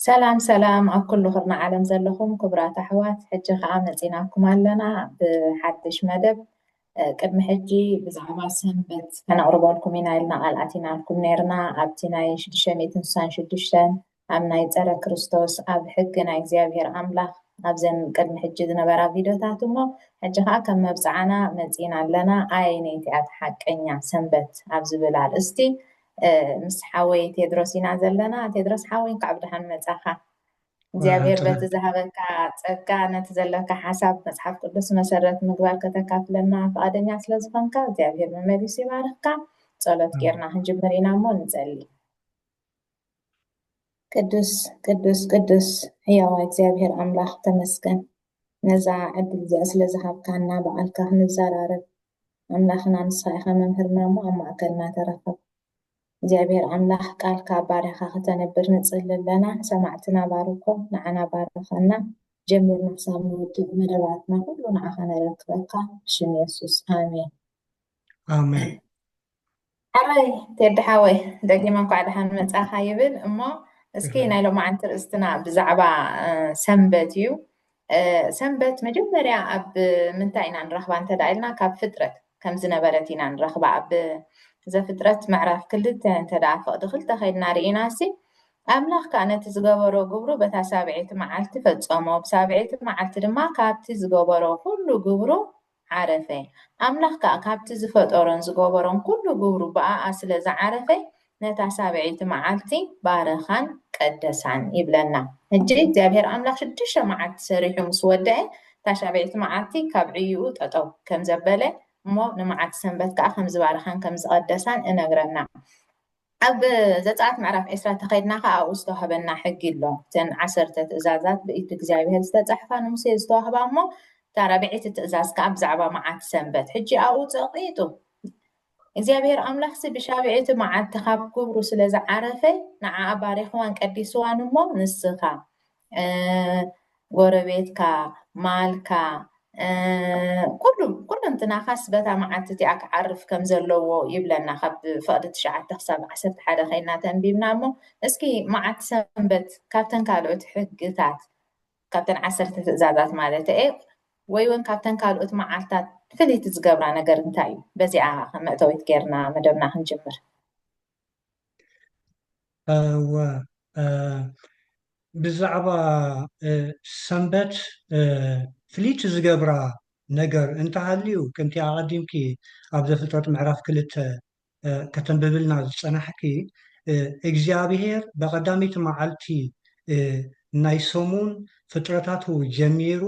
ሰላም ሰላም ኣብ ኩሉ ክርና ዓለም ዘለኹም ክቡራት ኣሕዋት ሕጂ ከዓ መፂናኩም ኣለና ብሓድሽ መደብ ቅድሚ ሕጂ ብዛዕባ ሰንበት ከነቕርበልኩም ኢና ኢልና ቃል ኣቲናልኩም ነርና ኣብቲ ናይ ሽዱሽተ ሚእትን ስሳን ሽዱሽተን ኣብ ናይ ጸረ ክርስቶስ ኣብ ሕጊ ናይ እግዚኣብሔር ኣምላኽ ኣብዘን ቅድሚ ሕጂ ዝነበራ ቪዶታት እሞ ሕጂ ከኣ ከም መብጽዓና መጺእና ኣለና ኣየነይቲ እያ እታ ሓቀኛ ሰንበት ኣብ ዝብል ኣርእስቲ ምስ ሓወይ ቴድሮስ ኢና ዘለና ቴድሮስ ሓወይ እንካዕ ብድሓን መጻኻ እግዚኣብሔር በቲ ዝሃበካ ጸጋ ነቲ ዘለካ ሓሳብ መጽሓፍ ቅዱስ መሰረት ምግባር ከተካፍለና ፍቓደኛ ስለ ዝኾንካ እግዚኣብሔር መመሊሱ ይባርኽካ ጸሎት ጌርና ክንጅምር ኢና እሞ ንጸሊ ቅዱስ ቅዱስ ቅዱስ ሕያዋ እግዚኣብሔር ኣምላኽ ተመስገን ነዛ ዕድል እዚኣ ስለ ዝሃብካና በዓልካ ክንዘራረብ ኣምላኽና ንስኻ ኢኻ መምህርና እሞ ኣብ ማእከልና ተረኸብ እግዚኣብሔር ኣምላኽ ቃልካ ባርያኻ ከተነብር ንጽሊ ኣለና ሰማዕትና ባርኮ ንዓና ባርኸና ጀሚርና ክሳብ ንውድእ መደባትና ኩሉ ንዓኻ ነረክበካ ብሽም የሱስ ኣሜን ኣሜን ሓወይ ቴዲ ሓወይ ደጊመ እንኳዕ ደሓን መጻኻ ይብል እሞ እስኪ ናይ ሎማዓንቲ ርእስትና ብዛዕባ ሰንበት እዩ ሰንበት መጀመርያ ኣብ ምንታይ ኢና ንረኽባ እንተ ኢልና ካብ ፍጥረት ከም ዝነበረት ኢና ንረኽባ ኣብ ዘፍጥረት ምዕራፍ ክልተ እንተ ደኣ ፍቕዲ ክልተ ከድና ርኢና ሲ ኣምላኽ ከዓ ነቲ ዝገበሮ ግብሩ በታ ሳብዒቲ መዓልቲ ፈጸሞ ብሳብዒቲ መዓልቲ ድማ ካብቲ ዝገበሮ ኩሉ ግብሩ ዓረፈ። ኣምላኽ ከኣ ካብቲ ዝፈጠሮን ዝገበሮን ኩሉ ግብሩ ብኣኣ ስለ ዝዓረፈ ነታ ሳብዐይቲ መዓልቲ ባረኻን ቀደሳን ይብለና። ሕጂ እግዚኣብሄር ኣምላኽ ሽዱሽተ መዓልቲ ሰሪሑ ምስ ወደኤ እታ ሻብዐይቲ መዓልቲ ካብ ዕይኡ ጠጠው ከም ዘበለ እሞ ንመዓልቲ ሰንበት ከኣ ከም ዝባረኻን ከም ዝቐደሳን እነግረና። ኣብ ዘጸኣት ምዕራፍ ዕስራ ተኸድና ከኣ ኣብኡ ዝተዋህበና ሕጊ ኣሎ። እተን ዓሰርተ ትእዛዛት ብኢድ እግዚኣብሄር ዝተጻሕፋ ንሙሴ ዝተዋህባ እሞ እታ ራብዐይቲ ትእዛዝ ከኣ ብዛዕባ መዓት ሰንበት ሕጂ ኣብኡ ጸቂጡ እግዚኣብሄር ኣምላኽሲ ብሻብዐይቲ መዓልቲ ካብ ክብሩ ስለ ዝዓረፈ ንዓኣ ባሪኽዋን ቀዲስዋን እሞ ንስኻ ጎረቤትካ፣ ማልካ፣ ኩሉ ኩሉንትናኻስ በታ መዓልቲ እቲኣ ክዓርፍ ከም ዘለዎ ይብለና። ካብ ፍቕዲ ትሽዓተ ክሳብ ዓሰርተ ሓደ ከይና ተንቢብና እሞ እስኪ መዓልቲ ሰንበት ካብተን ካልኦት ሕግታት ካብተን ዓሰርተ ትእዛዛት ማለት እየ ወይ እውን ካብተን ካልኦት መዓልታት ፍልይቲ ዝገብራ ነገር እንታይ እዩ? በዚኣ ከም መእተዊት ጌርና መደብና ክንጅምር። እወ ብዛዕባ ሰንበት ፍልይቲ ዝገብራ ነገር እንተሃልዩ ከምቲ ኣቐዲምኪ ኣብ ዘፍጥረት ምዕራፍ ክልተ ከተንብብልና ዝፀናሕኪ እግዚኣብሄር ብቐዳመይቲ መዓልቲ ናይ ሰሙን ፍጥረታቱ ጀሚሩ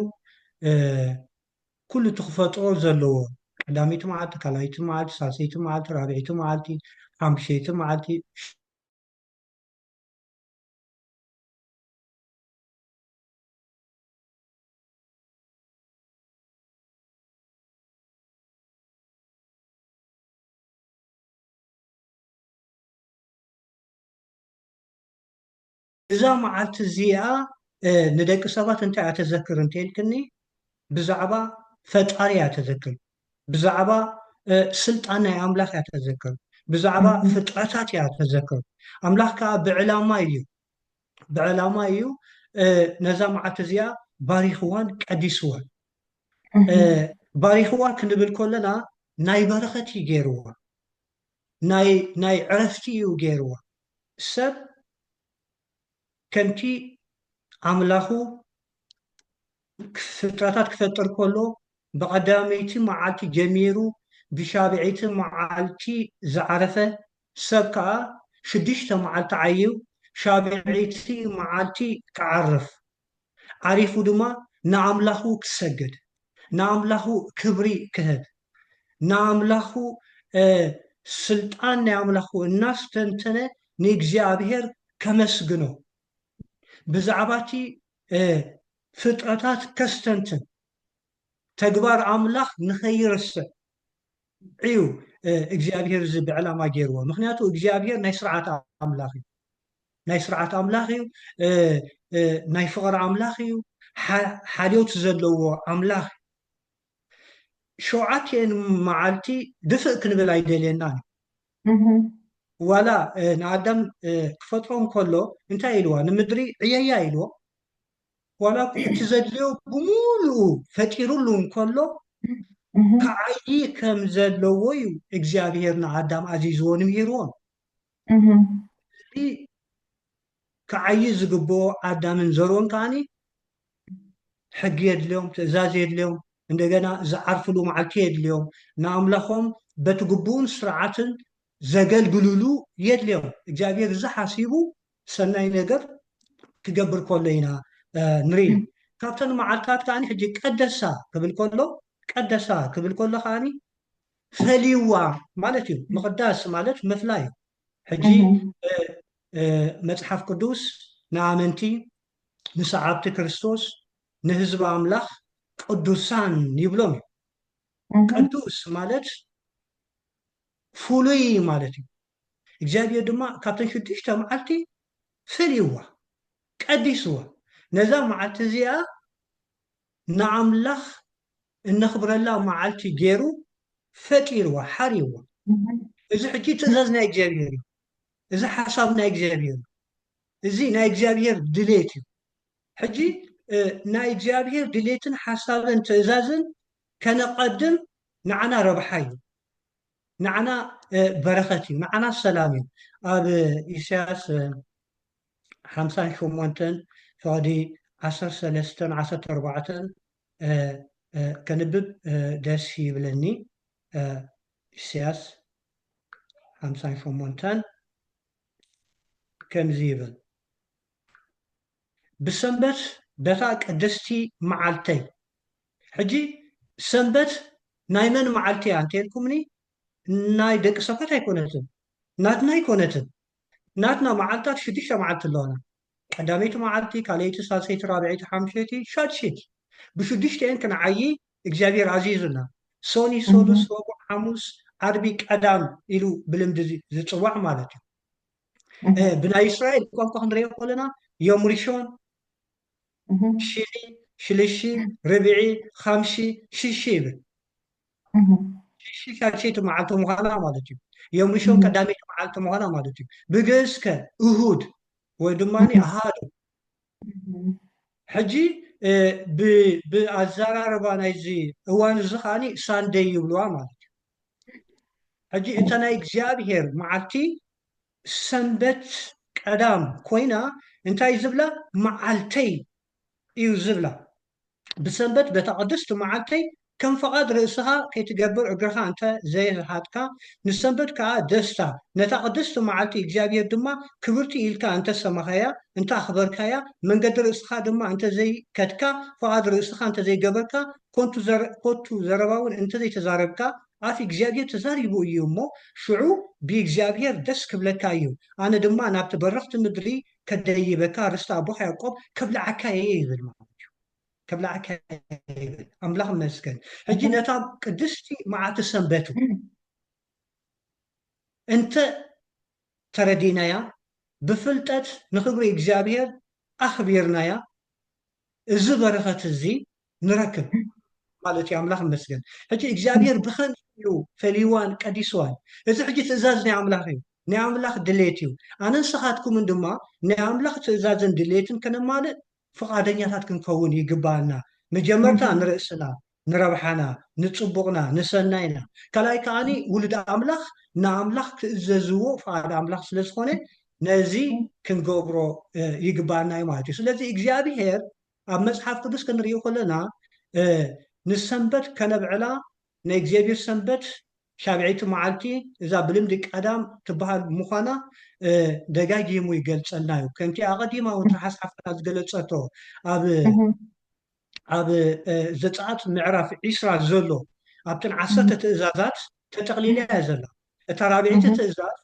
ኩሉ እቲ ክፈጥሮ ዘለዎ ቀዳመይቲ መዓልቲ ካልኣይቲ መዓልቲ ሳልሰይቲ መዓልቲ ራብዐይቲ መዓልቲ ሓሙሸይቲ መዓልቲ እዛ መዓልቲ እዚኣ ንደቂ ሰባት እንታይ እያ ተዘክር እንተልክኒ ብዛዕባ ፈጣሪ እያ ተዘክር ብዛዕባ ስልጣን ናይ ኣምላኽ እያ ተዘክር ብዛዕባ ፍጥረታት እያ ተዘክር ኣምላኽ ከዓ ብዕላማ እዩ ብዕላማ እዩ ነዛ መዓልቲ እዚኣ ባሪኽዋን ቀዲስዋን ባሪኽዋ ክንብል ከለና ናይ በረኸት እዩ ገይርዋ ናይ ናይ ዕረፍቲ እዩ ገይርዋ ሰብ ከምቲ ኣምላኹ ፍጥረታት ክፈጥር ከሎ ብቐዳመይቲ መዓልቲ ጀሚሩ ብሻብዐይቲ መዓልቲ ዝዓረፈ ሰብ ከኣ ሽዱሽተ መዓልቲ ዓይዩ ሻብዐይቲ መዓልቲ ክዓርፍ ዓሪፉ ድማ ንኣምላኹ ክሰግድ፣ ንኣምላኹ ክብሪ ክህብ፣ ንኣምላኹ ስልጣን ናይ ኣምላኹ እናስተንተነ ንእግዚኣብሔር ከመስግኖ፣ ብዛዕባ እቲ ፍጥረታት ከስተንትን፣ ተግባር ኣምላኽ ንኸይርስዕ፣ እዩ እግዚኣብሄር እዚ ብዕላማ ገይርዎ ምክንያቱ እግዚኣብሄር ናይ ስርዓት ኣምላኽ እዩ ናይ ስርዓት ኣምላኽ እዩ ናይ ፍቕሪ ኣምላኽ እዩ ሓልዮት ዘለዎ ኣምላኽ ሸውዓትኤን መዓልቲ ድፍእ ክንብል ኣይደልየናን እዩ ዋላ ንኣዳም ክፈጥሮ እንከሎ እንታይ ኢልዋ ንምድሪ ዕየያ ኢልዎ ዋላ እኳ እቲ ዘድልዮ ብምሉኡ ፈጢሩሉ እንከሎ፣ ክዓዪ ከም ዘለዎ እዩ እግዚኣብሄር ንኣዳም ኣዚዝዎን ምሂርዎን። እቲ ክዓዪ ዝግብኦ ኣዳምን ዘርኡን ከኣ ሕጊ የድልዮም፣ ትእዛዝ የድልዮም፣ እንደገና ዝዓርፍሉ መዓልቲ የድልዮም፣ ንኣምላኾም በቲ ግቡእን ስርዓትን ዘገልግልሉ የድልዮም። እግዚኣብሄር እዚ ሓሲቡ ሰናይ ነገር ክገብር ከሎ ኢና ንርኢ ካብተን መዓልታት ከዓኒ ሕጂ ቀደሳ ክብል ከሎ ቀደሳ ክብል ከሎ ከዓኒ ፈልይዋ ማለት እዩ ምቕዳስ ማለት ምፍላይ እዩ ሕጂ መጽሓፍ ቅዱስ ንኣመንቲ ንሰዓብቲ ክርስቶስ ንህዝቢ ኣምላኽ ቅዱሳን ይብሎም እዩ ቅዱስ ማለት ፍሉይ ማለት እዩ እግዚኣብሄር ድማ ካብተን ሽዱሽተ መዓልቲ ፈልይዋ፣ ቀዲስዋ፣ ነዛ መዓልቲ እዚኣ ንኣምላኽ እነኽብረላ መዓልቲ ገይሩ ፈጢርዋ፣ ሓርይዋ። እዚ ሕጂ ትእዛዝ ናይ እግዚኣብሄር እዩ፣ እዚ ሓሳብ ናይ እግዚኣብሄር እዩ፣ እዚ ናይ እግዚኣብሄር ድሌት እዩ። ሕጂ ናይ እግዚኣብሄር ድሌትን ሓሳብን ትእዛዝን ከነቐድም ንዓና ረብሓ እዩ። ንዓና በረኸት እዩ ንዓና ሰላም እዩ ኣብ ኢሳያስ ሓምሳን ሸሞንተን ፍቕዲ ዓሰርተ ሰለስተን ዓሰርተ ኣርባዕተን ከንብብ ደስ ይብለኒ ኢሳያስ ሓምሳን ሸሞንተን ከምዚ ይብል ብሰንበት በታ ቅድስቲ መዓልተይ ሕጂ ሰንበት ናይ መን መዓልቲ እያ እንተልኩምኒ ናይ ደቂ ሰባት ኣይኮነትን ናትና ኣይኮነትን ናትና መዓልታት ሽዱሽተ መዓልቲ ኣለዋና ቀዳመይቲ መዓልቲ ካልኣይቲ ሳልሰይቲ ራብዐይቲ ሓምሸይቲ ሻድሸይቲ ብሽዱሽተኤን ክንዓዪ እግዚኣብሔር ኣዚዙና ሶኒ ሶሉስ ረቡዕ ሓሙስ ዓርቢ ቀዳም ኢሉ ብልምዲ ዝፅዋዕ ማለት እዩ ብናይ እስራኤል ቋንቋ ክንሪኦ ከለና ዮም ሪሾን ሽኒ ሽልሺ ርብዒ ሓምሺ ሽሺ ይብል ሽሺ ሻልሸይቲ መዓልቲ ምዃና ማለት እዩ ዮም ሪሾን ቀዳመይቲ መዓልቲ ምዃና ማለት እዩ ብግእዝ ከ እሁድ ወይ ድማ ኣሃዱ ሕጂ ብኣዘራርባ ናይዚ እዋን እዚ ከዓኒ ሳንደይ ይብልዋ ማለት እዩ ሕጂ እታ ናይ እግዚኣብሄር መዓልቲ ሰንበት ቀዳም ኮይና እንታይ ዝብላ መዓልተይ እዩ ዝብላ ብሰንበት በታ ቅድስቲ መዓልተይ ከም ፈቓድ ርእስኻ ከይትገብር እግርኻ እንተ ዘይርሃጥካ ንሰንበት ከኣ ደስታ ነታ ቅድስቲ መዓልቲ እግዚኣብሄር ድማ ክብርቲ ኢልካ እንተ ሰማኻያ እንተ ኣኽበርካያ መንገዲ ርእስኻ ድማ እንተ ዘይከድካ ፈቓድ ርእስኻ እንተ ዘይገበርካ ኮንቱ ዘረ ኮቱ ዘረባ ውን እንተ ዘይተዛረብካ ኣፍ እግዚኣብሄር ተዛሪቡ እዩ እሞ ሽዑ ብእግዚኣብሄር ደስ ክብለካ እዩ ኣነ ድማ ናብቲ በረኽቲ ምድሪ ከደይበካ ርስቲ ኣቦኻ ያዕቆብ ከብልዓካ እየ ይብል ማለት እዩ ከብልዓካ ይብል ኣምላኽ መስገን ሕጂ ነታ ቅድስቲ መዓልቲ ሰንበቱ እንተ ተረዲናያ ብፍልጠት ንኽብሪ እግዚኣብሄር ኣኽቢርናያ እዚ በረኸት እዚ ንረክብ ማለት እዩ ኣምላኽ ይመስገን ሕጂ እግዚኣብሔር ብኸምዚ እዩ ፈልይዋን ቀዲስዋን እዚ ሕጂ ትእዛዝ ናይ ኣምላኽ እዩ ናይ ኣምላኽ ድሌት እዩ ኣነን ንስኻትኩምን ድማ ናይ ኣምላኽ ትእዛዝን ድሌትን ከነማልእ ፍቓደኛታት ክንከውን ይግብኣና መጀመርታ ንርእስና ንረብሓና ንጽቡቕና ንሰናይና ካልኣይ ከኣ ውሉድ ኣምላኽ ንኣምላኽ ክእዘዝዎ ፍቓድ ኣምላኽ ስለ ዝኾነ ነዚ ክንገብሮ ይግብኣና እዩ ማለት እዩ ስለዚ እግዚኣብሄር ኣብ መጽሓፍ ቅዱስ ክንሪኦ ከለና ንሰንበት ከነብዕላ ናይ እግዚኣብሄር ሰንበት ሻብዐይቲ መዓልቲ እዛ ብልምዲ ቀዳም ትበሃል ምዃና ደጋጊሙ ይገልጸልና እዩ ከምቲ ኣቐዲማ እውን ትሓስሓፍና ዝገለጸቶ ኣብ ኣብ ዘጸኣት ምዕራፍ ዒስራ ዘሎ ኣብተን ዓሰርተ ትእዛዛት ተጠቕሊላ እያ ዘላ። እታ ራብዐይቲ ትእዛዝ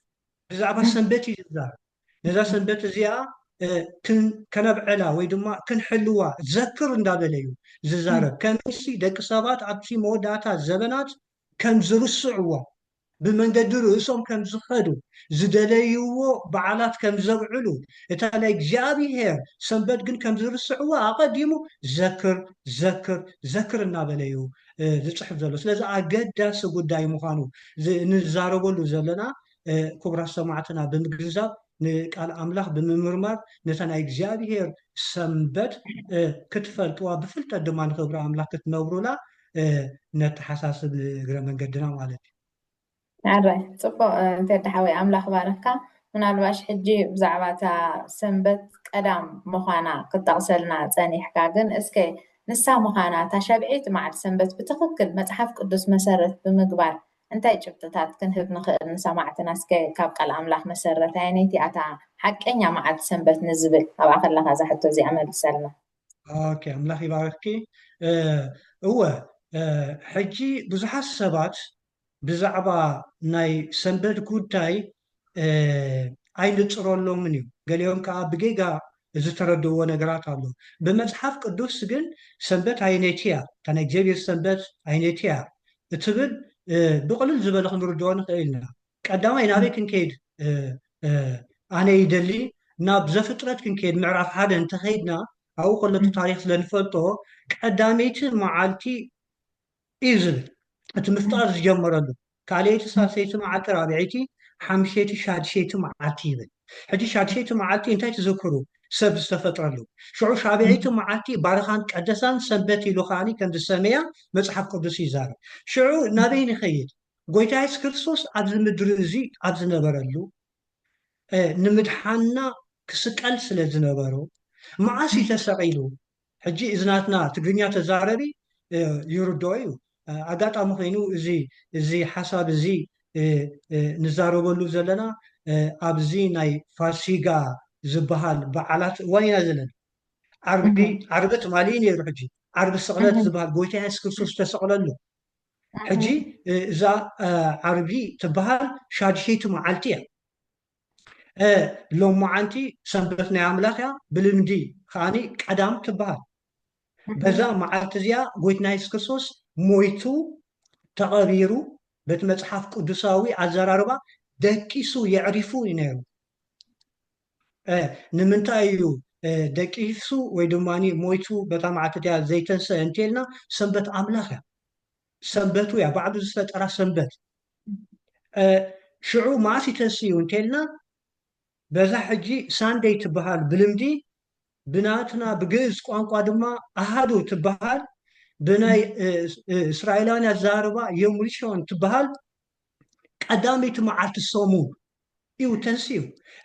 ብዛዕባ ሰንበት እዩ ዝዛረብ። ነዛ ሰንበት እዚኣ ከነብዕላ ወይ ድማ ክንሕልዋ ዘክር እንዳበለ እዩ ዝዛረብ። ከመይሲ ደቂ ሰባት ኣብቲ መወዳእታ ዘበናት ከም ዝርስዕዎ፣ ብመንገዲ ርእሶም ከም ዝኸዱ፣ ዝደለይዎ በዓላት ከም ዘብዕሉ፣ እታ ናይ እግዚኣብሄር ሰንበት ግን ከም ዝርስዕዋ ኣቐዲሙ ዘክር፣ ዘክር፣ ዘክር እናበለ እዩ ዝጽሕፍ ዘሎ። ስለዚ ኣገዳሲ ጉዳይ ምዃኑ ንዛረበሉ ዘለና ክቡራት ሰማዕትና ብምግንዛብ ንቃል ኣምላኽ ብምምርማር ነታ ናይ እግዚኣብሄር ሰንበት ክትፈልጥዋ ብፍልጠት ድማ ንኽብሪ ኣምላኽ ክትነብሩላ ነተሓሳስብ ንእግረ መንገድና ማለት እዩ ኣራይ ፅቡቅ እንተደ ሓወይ ኣምላኽ ባረኽካ ምናልባሽ ሕጂ ብዛዕባ እታ ሰንበት ቀዳም ምዃና ክጠቕሰልና ጸኒሕካ ግን እስከ ንሳ ምዃና እታ ሸብዒት መዓልቲ ሰንበት ብትኽክል መጽሓፍ ቅዱስ መሰረት ብምግባር እንታይ ጭብጥታት ክንህብ ንኽእል ንሰማዕትና እስከ ካብ ቃል ኣምላኽ መሰረት ኣየነይቲ እያ እታ ሓቀኛ መዓልቲ ሰንበት ንዝብል ኣብኣ ከለኻ እዛ ሕቶ እዚኣ መልሰልና። ኦኬ ኣምላኽ ይባርኽኪ እወ ሕጂ ብዙሓት ሰባት ብዛዕባ ናይ ሰንበት ጉዳይ ኣይንጽረሎምን እዩ። ገሊኦም ከኣ ብጌጋ ዝተረድእዎ ነገራት ኣሎ። ብመጽሓፍ ቅዱስ ግን ሰንበት ኣየነይቲ እያ፣ እታ ናይ እግዚኣብሄር ሰንበት ኣየነይቲ እያ እትብል ብቕልል ዝበለ ክንርድኦ ንኽእል ኢና። ቀዳማይ ናበይ ክንከይድ ኣነ ይደሊ፣ ናብ ዘፍጥረት ክንከይድ ምዕራፍ ሓደ እንተኸይድና ኣብኡ ከሎ እቲ ታሪኽ ስለ ንፈልጦ ቀዳመይቲ መዓልቲ እዩ ዝብል እቲ ምፍጣር ዝጀመረሉ ካልኣይቲ ሳልሰይቲ መዓልቲ ራብዐይቲ ሓምሸይቲ ሻድሸይቲ መዓልቲ ይብል ሕጂ ሻድሸይቲ መዓልቲ እንታይ ትዝክሩ ሰብ ዝተፈጥረሉ ሽዑ ሻብዐይቲ መዓልቲ ባርኻን ቀደሳን ሰንበት ኢሉ ከኣ ከም ዝሰመያ መጽሓፍ ቅዱስ ይዛረብ ሽዑ ናበይ ንኸይድ ጎይታ የሱስ ክርስቶስ ኣብዚ ምድሪ እዚ ኣብ ዝነበረሉ ንምድሓና ክስቀል ስለ ዝነበሮ መዓስ እዩ ተሰቒሉ ሕጂ እዚ ናትና ትግርኛ ተዛረቢ ይርድኦ እዩ። ኣጋጣሚ ኮይኑ እዚ እዚ ሓሳብ እዚ ንዛረበሉ ዘለና ኣብዚ ናይ ፋሲጋ ዝበሃል በዓላት እዋን ኢና ዘለና። ዓርቢ ዓርቢ ትማሊ እዩ ነይሩ ሕጂ ዓርቢ ስቕለት ዝበሃል ጎይታ የሱስ ክርስቶስ ዝተሰቕለሉ ሕጂ እዛ ዓርቢ ትበሃል ሻድሸይቲ መዓልቲ እያ። እ ሎማዓንቲ ሰንበት ናይ ኣምላኽ እያ ብልምዲ ከኣኒ ቀዳም ትበሃል በዛ መዓልቲ እዚኣ ጎይትና የሱስ ክርስቶስ ሞይቱ ተቐቢሩ በቲ መጽሓፍ ቅዱሳዊ ኣዘራርባ ደቂሱ የዕሪፉ እዩ ነይሩ ንምንታይ እዩ ደቂሱ ወይ ድማ ሞይቱ በታ መዓልቲ እቲኣ ዘይተንሰ እንተልና ሰንበት ኣምላኽ እያ ሰንበቱ እያ ባዕሉ ዝፈጠራ ሰንበት ሽዑ መኣስ ይተስዩ እንተልና በዛ ሕጂ ሳንደይ ትበሃል ብልምዲ ብናትና ብግእዝ ቋንቋ ድማ ኣሃዱ ትበሃል ብናይ እስራኤላውያን ኣዘራርባ የሙልሾን ትበሃል ቀዳመይቲ መዓልቲ ሰሙን እዩ ተንስዩ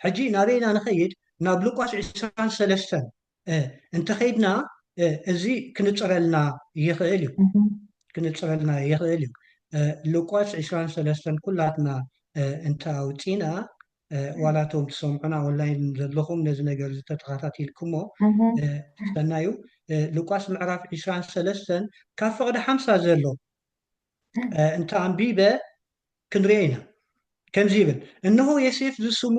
ሕጂ ናበይና ንኸይድ ናብ ሉቃስ 23 እ እንተኸይድና እ እዚ ክንጽረልና ይኽእል እዩ ክንጽረልና ይኽእል እዩ እ ሉቃስ ዕስራን ሰለስተን ኩላትና እ እንተ ኣውጺእና እ ዋላ እቶም ትሰምዑና ኦንላይን ዘለኹም ነዚ ነገር እዚ ተተኸታቲልኩሞ እ ሰናዩ እ ሉቃስ ምዕራፍ ዕስራን ሰለስተን ካብ ፍቕዲ ሓምሳ ዘሎ እ እንተ ኣንቢበ ክንርኦ ኢና ከምዚ ይብል እንሆ የሴፍ ዝስሙ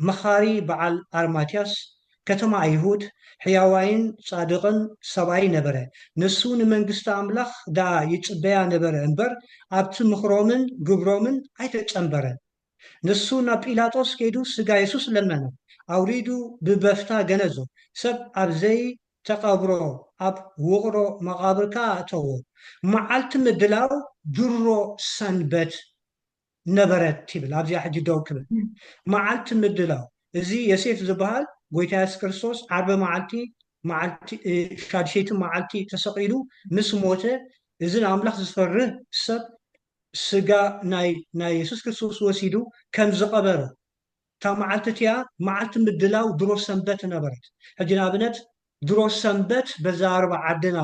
መኻሪ በዓል ኣርማትያስ፣ ከተማ ኣይሁድ፣ ሕያዋይን ጻድቕን ሰብኣይ ነበረ። ንሱ ንመንግስቲ ኣምላኽ ደኣ ይጽበያ ነበረ እምበር፣ ኣብቲ ምኽሮምን ግብሮምን ኣይተጸንበረን። ንሱ ናብ ጲላጦስ ከይዱ ስጋ የሱስ ለመነ፣ ኣውሪዱ ብበፍታ ገነዞ፣ ሰብ ኣብ ዘይተቐብሮ ኣብ ውቕሮ መቓብር ከኣ ኣእተዎ። መዓልቲ ምድላው ድሮ ሰንበት። ነበረት ይብል ኣብዚኣ ሕጂ ደው ክብል መዓልቲ ምድላው እዚ የሴፍ ዝብሃል ጎይታ የሱስ ክርስቶስ ዓርቢ መዓልቲ መዓልቲ ሻድሸይቲ መዓልቲ ተሰቂሉ ምስ ሞተ እዚ ንኣምላኽ ዝፈርህ ሰብ ስጋ ናይ ናይ የሱስ ክርስቶስ ወሲዱ ከም ዝቐበረ እታ መዓልቲ እቲኣ መዓልቲ ምድላው ድሮ ሰንበት ነበረት ሕጂ ንኣብነት ድሮ ሰንበት በዛ ኣርባ ዓድና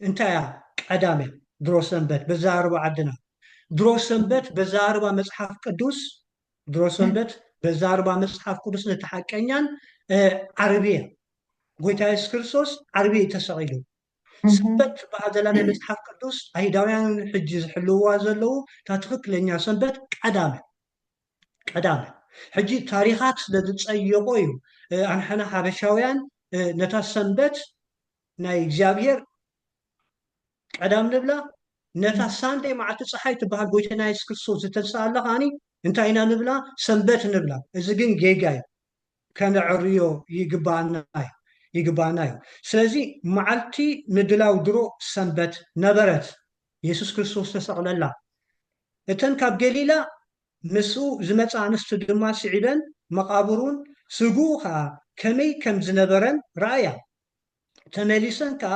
እንታያ ቀዳምያ ድሮ ሰንበት በዛርባ ዓድና ድሮ ሰንበት በዛርባ መጽሓፍ ቅዱስ ድሮ ሰንበት በዛርባ መጽሓፍ ቅዱስ ነቲ ሓቀኛን ዓርብያ ጎይታ የሱስ ክርስቶስ ዓርቢ እዩ ተሰቂሉ ሰንበት ትበሃል ዘላ ናይ መፅሓፍ ቅዱስ ኣይሁዳውያን ሕጂ ዝሕልውዋ ዘለዉ እታ ትክክለኛ ሰንበት ቀዳመ ቀዳመ ሕጂ ታሪኻት ስለ ዝፀየቆ እዩ ኣንሕና ሓበሻውያን ነታ ሰንበት ናይ እግዚኣብሔር ቀዳም ንብላ ነታ ሳንደይ መዓልቲ ፀሓይ ትበሃል ጎይታና የሱስ ክርስቶስ ዝተንስኣላ ከዓኒ እንታይ ኢና ንብላ ሰንበት ንብላ እዚ ግን ጌጋ እዩ ከነዕርዮ ይግባኣና እዩ ይግባኣና እዩ ስለዚ መዓልቲ ምድላው ድሮ ሰንበት ነበረት የሱስ ክርስቶስ ተሰቕለላ እተን ካብ ገሊላ ምስኡ ዝመፃ ኣንስቲ ድማ ስዒበን መቓብሩን ስግኡ ከዓ ከመይ ከም ዝነበረን ረኣያ ተመሊሰን ከኣ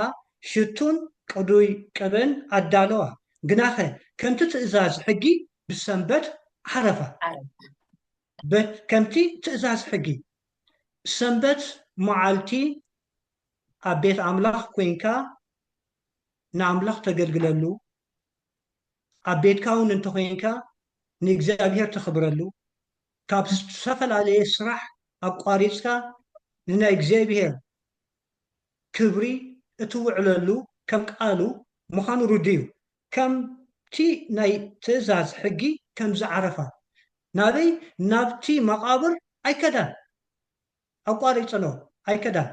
ሽቱን ቅዱይ ቅብእን ኣዳለዋ፣ ግናኸ ከምቲ ትእዛዝ ሕጊ ብሰንበት ዓረፋ። ዓረፋ። በት ከምቲ ትእዛዝ ሕጊ ሰንበት መዓልቲ ኣብ ቤት ኣምላኽ ኰይንካ ንኣምላኽ ተገልግለሉ፣ ኣብ ቤትካውን እንተ ዄንካ ንእግዚኣብሄር ተኽብረሉ፣ ካብ ዝተፈላለየ ስራሕ ኣቋሪጽካ ንናይ እግዚኣብሄር ክብሪ እትውዕለሉ ከም ቃሉ ምዃኑ ርዱእ እዩ። ከምቲ ናይ ትእዛዝ ሕጊ ከም ዝዓረፋ ናበይ ናብቲ መቓብር ኣይከዳን። ኣቋሪጽንኦ ኣይከዳን።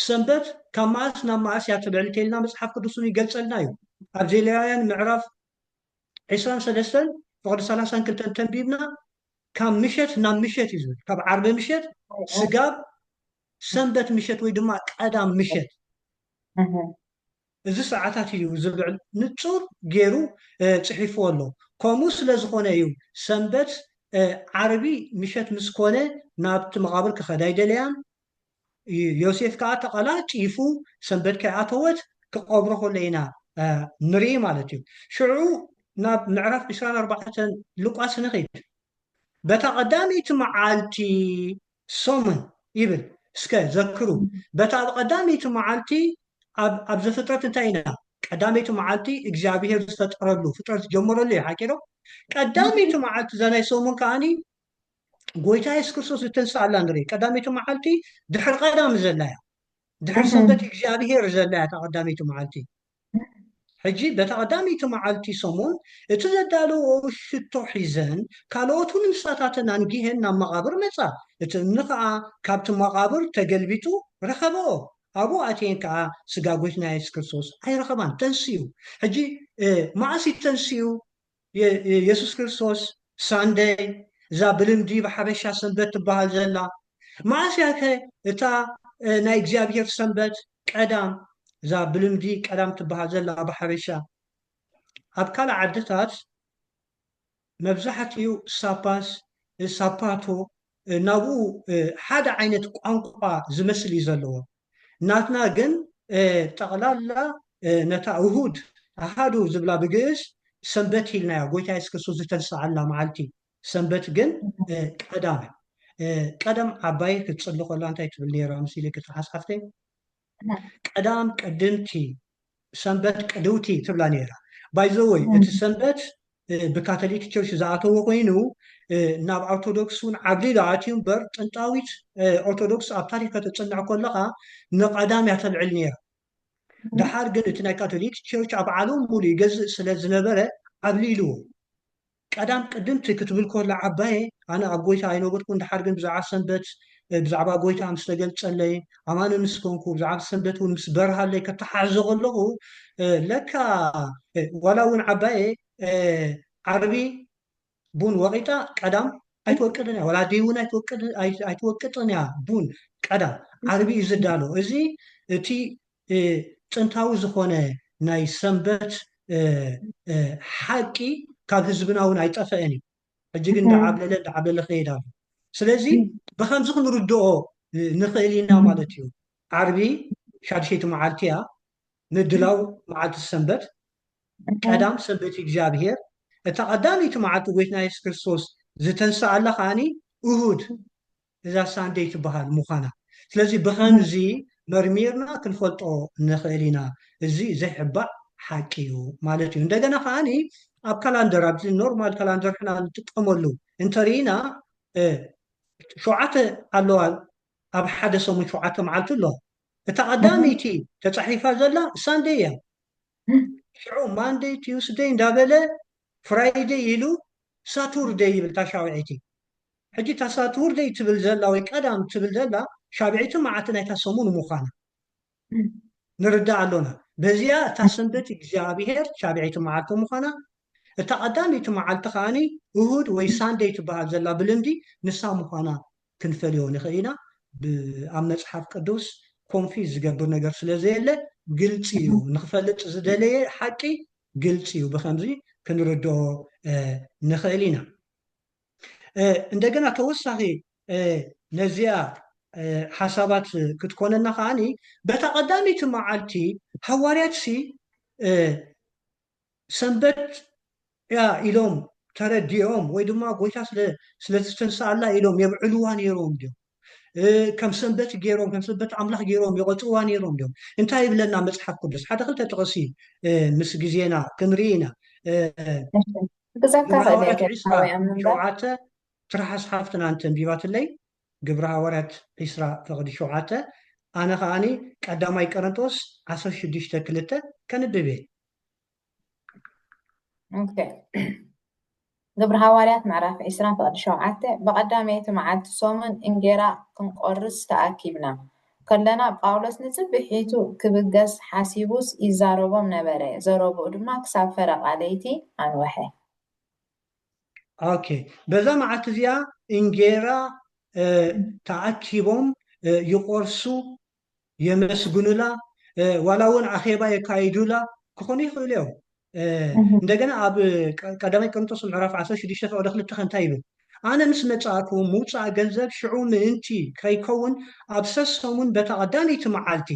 ሰንበት ካብ መኣስ ናብ መኣስ እያ ትልዕል እንተኢልና መጽሓፍ ቅዱስ ውን ይገልጸልና እዩ። ኣብዚ ሌዋውያን ምዕራፍ ዕስራን ሰለስተን ፍቕዲ ሰላሳን ክልተን ተንቢብና ካብ ምሸት ናብ ምሸት እዩ ዝብል ካብ ዓርቢ ምሸት ስጋብ ሰንበት ምሸት ወይ ድማ ቀዳም ምሸት እዚ ሰዓታት እዩ ዝብል ንጹር ገይሩ ጽሒፍዎ ኣሎ። ከምኡ ስለ ዝኾነ እዩ ሰንበት ዓርቢ ምሸት ምስ ኮነ ናብቲ መቓብር ክኸዳ ኣይደለያን፣ ዮሴፍ ከኣ ተቐላ ጪፉ ሰንበት ከይኣተወት ክቐብሮ ከሎ ኢና ንርኢ ማለት እዩ። ሽዑ ናብ ምዕራፍ ዕስራን ኣርባዕተን ሉቃስ ንኺድ። በታ ቐዳመይቲ መዓልቲ ሰሙን ይብል። እስከ ዘክሩ በታ ኣብ ቐዳመይቲ መዓልቲ ኣብ ኣብ ዘፍጥረት እንታይ ኢና ቀዳመይቲ መዓልቲ እግዚኣብሄር ዝፈጠረሉ ፍጥረት ዝጀመረሉ እዩ ሓቂዶ? ቀዳመይቲ መዓልቲ እዛ ናይ ሰሙን ከኣኒ ጎይታ የሱስ ክርስቶስ ዝተንስኣላ ንርኢ ቀዳመይቲ መዓልቲ ድሕሪ ቀዳም ዘላ እያ ድሕሪ ሰንበት እግዚኣብሄር ዘላ እያ እታ ቀዳመይቲ መዓልቲ ሕጂ በታ ቀዳመይቲ መዓልቲ ሰሙን እቲ ዘዳለዎ ሽቶ ሒዘን ካልኦት እውን ንሳታተን ኣንጊሀን ናብ መቓብር መጻ እቲ እምኒ ከዓ ካብቲ መቓብር ተገልቢጡ ረኸበኦ ኣብኡ ኣትየን ከዓ ስጋ ጎይትና የሱስ ክርስቶስ ኣይረኸባን ተንስኡ ሕጂ መዓስ እዩ ተንስኡ የሱስ ክርስቶስ ሳንደይ እዛ ብልምዲ ብሓበሻ ሰንበት ትበሃል ዘላ መዓስ እያከ እታ ናይ እግዚኣብሄር ሰንበት ቀዳም እዛ ብልምዲ ቀዳም ትበሃል ዘላ ብሓበሻ ኣብ ካልእ ዓድታት መብዛሕትኡ ሳፓስ ሳፓቶ ናብኡ ሓደ ዓይነት ቋንቋ ዝመስል እዩ ዘለዎም ናትና ግን ጠቕላላ ነታ እሁድ፣ ኣሃዱ፣ ዝብላ ብግእዝ ሰንበት ኢልናያ፣ ጎይታ የሱስ ክርስቶስ ዝተንስኣላ መዓልቲ፣ ሰንበት ግን ቀዳም እያ። ቀደም ዓባየይ ክትጽሊ ከላ እንታይ ትብል ነይራ መሲልኪ ትሓስሓፍተይ? ቀዳም ቀድምቲ ሰንበት ቅድውቲ ትብላ ነይራ ባይዘወይ እቲ ሰንበት ብካቶሊክ ቸርች ዝኣተዎ ኮይኑ ናብ ኦርቶዶክስ እውን ዓብሊሉ ኣትዩ እምበር ጥንጣዊት ኦርቶዶክስ ኣብ ታሪክ ከተፅንዕ ከለካ ንቀዳም እያ ተልዕል ነይራ ደሓር ግን እቲ ናይ ካቶሊክ ቸርች ኣብ ዓለም ሙሉ ይገዝእ ስለ ዝነበረ ዓብሊልዎ ቀዳም ቅድምቲ ክትብል ኮላ ዓባየ ኣነ ኣብ ጎይታ ኣይነበርኩን ደሓር ግን ብዛዕባ ሰንበት ብዛዕባ ጎይታ ምስ ተገልጸለይ ኣማኒ ምስ ኮንኩ ብዛዕባ ሰንበት ውን ምስ በርሃለይ ከተሓሕዞ ከለኩ ለካ ዋላ ውን ዓባየ ዓርቢ ቡን ወቂጣ ቀዳም ኣይትወቅጥን እያ ዋላ ኣደይ ውን ኣይትወቅጥን እያ ቡን ቀዳም ዓርቢ እዩ ዝዳሎ እዚ እቲ ጥንታዊ ዝኾነ ናይ ሰንበት ሓቂ ካብ ህዝብና እውን ኣይጠፈአን እዩ ሕጂ ግን ዳዓብለለ ዳዓብለለ ከይድ ኣሎ ስለዚ ብከምዚ ክንርድኦ ንኽእል ኢና ማለት እዩ ዓርቢ ሻድሸይቲ መዓልቲ እያ ምድላው መዓልቲ ሰንበት ቀዳም ሰንበት እግዚኣብሔር እታ ቀዳመይቲ መዓልቲ ጎይትና የሱስ ክርስቶስ ዝተንስኣላ ከዓኒ እሁድ እዛ ሳንደይ ትበሃል ምዃና። ስለዚ ብኸምዚ መርሚርና ክንፈልጦ ንኽእል ኢና። እዚ ዘይሕባእ ሓቂ እዩ ማለት እዩ። እንደገና ከኣ ኣብ ካላንደር ኣብዚ ኖርማል ካላንደር ሕና ንጥቀመሉ እንተ ርኢና ሸውዓተ ኣለዋ ኣብ ሓደ ሰሙን ሸውዓተ መዓልቲ ኣሎ። እታ ቀዳመይቲ ተጻሒፋ ዘላ ሳንደይ እያ። ሽዑ ማንደይ ቲውስደይ እንዳበለ ፍራይደይ ኢሉ ሳቱርደይ ይብል ታሻውዒቲ ሕጂ እታ ሳትርደይ ትብል ዘላ ወይ ቀዳም ትብል ዘላ ሻብዒትን መዓልቲ ናይታ ሰሙን ምዃና ንርዳእ ኣሎና። በዚኣ እታ ሰንበት እግዚኣብሄር ሻብዒቲ መዓልቲ ምዃና እታ ቀዳመይቲ መዓልቲ ከኣ እሁድ ወይ ሳንደይ ትበሃል ዘላ ብልምዲ ንሳ ምዃና ክንፈልዮ ንኽእል ኢና። ኣብ መጽሓፍ ቅዱስ ኮንፊዝ ዝገብር ነገር ስለ ዘየለ ግልጺ እዩ። ንኽፈልጥ ዝደለየ ሓቂ ግልጺ እዩ። ብኸምዚ ክንርድኦ ንኽእል ኢና። እንደገና ተወሳኺ ነዚኣ ሓሳባት ክትኮነና ከዓኒ በታ ቀዳመይቲ መዓልቲ ሃዋርያትሲ ሰንበት እያ ኢሎም ተረዲኦም ወይ ድማ ጎይታ ስለዝተንስኣላ ኢሎም የብዕልዋ ነይሮም ድዮም ከም ሰንበት ገይሮም ከም ሰንበት ኣምላኽ ገይሮም ይቐጽዋ ነይሮም እዮም እንታይ ይብለና መጽሓፍ ቅዱስ ሓደ ክልተ ጥቕሲ ምስ ግዜና ክንርኢ ኢና ግብረ ሃዋርያት ዕስራ ሸውዓተ ትርሓስ ሓፍትና እንተንቢባትለይ ግብረ ሃዋርያት ዕስራ ፍቕዲ ሸውዓተ ኣነ ከዓኒ ቀዳማይ ቀረንጦስ ዓሰርተ ሽዱሽተ ክልተ ከንብብ እየ ግብሪ ሃዋርያት ምዕራፍ ዕስራ ፍቕዲ ሸውዓተ ብቐዳመይቲ መዓልቲ ሰሙን እንጌራ ክንቈርስ ተኣኪብና ከለና፣ ጳውሎስ ንጽብሒቱ ኺብገስ ሓሲቡስ ይዛረቦም ነበረ፣ ዘረብኡ ድማ ክሳብ ፈረቓ ለይቲ ኣንውሐ። ኦኬ፣ በዛ መዓልቲ እዚኣ እንጌራ ተኣኪቦም ይቈርሱ የመስግኑላ ዋላ እውን ኣኼባ የካይዱላ ክኾኑ ይኽእሉ እዮም እንደገና ኣብ ቀዳማይ ቅርንጦስ ምዕራፍ 16 ፈቅደ ክልተ ከንታይ ይብል ኣነ ምስ መጻእኩ ምውፃእ ገንዘብ ሽዑ ምእንቲ ከይከውን ኣብ ሰሰሙን በታ ቀዳመይቲ መዓልቲ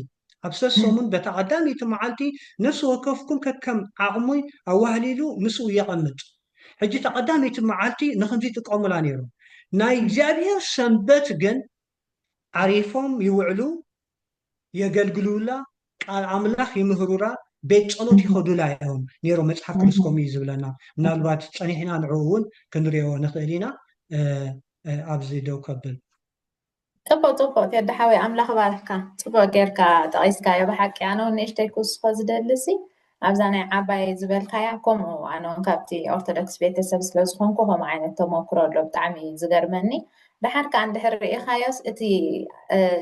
ኣብ ሰሰሙን በታ ቀዳመይቲ መዓልቲ ነፍሲ ወከፍኩም ከከም ዓቕሙ ኣዋህሊሉ ምስኡ የቐምጥ ሕጂ እታ ቀዳመይቲ መዓልቲ ንክምዚ ይጥቀሙላ ነይሮም ናይ እግዚኣብሔር ሰንበት ግን ዓሪፎም ይውዕሉ የገልግሉላ ቃል ኣምላኽ ይምህሩራ ቤት ጸሎት ይኸዱላ እዮም ነይሮም መጽሓፍ ቅዱስ ከምኡ እዩ ዝብለና ምናልባት ጸኒሕና ንዕኡ እውን ክንሪኦ ንኽእል ኢና ኣብዚ ደው ከብል ጽቡቅ ጽቡቅ ቴዲ ሓወይ ኣምላኽ ባርኽካ ጽቡቅ ጌርካ ጠቂስካዮ ብሓቂ ኣነ ውን ንእሽተይ ክውስኮ ዝደሊ ሲ ኣብዛ ናይ ዓባየይ ዝበልካያ ኮምኡ ኣነውን ካብቲ ኦርቶዶክስ ቤተሰብ ስለ ዝኮንኩ ኮምኡ ዓይነት ተሞክሮ ኣሎ ብጣዕሚ እዩ ዝገርመኒ ደሓር ከኣ እንድሕር ርኢኻዮስ እቲ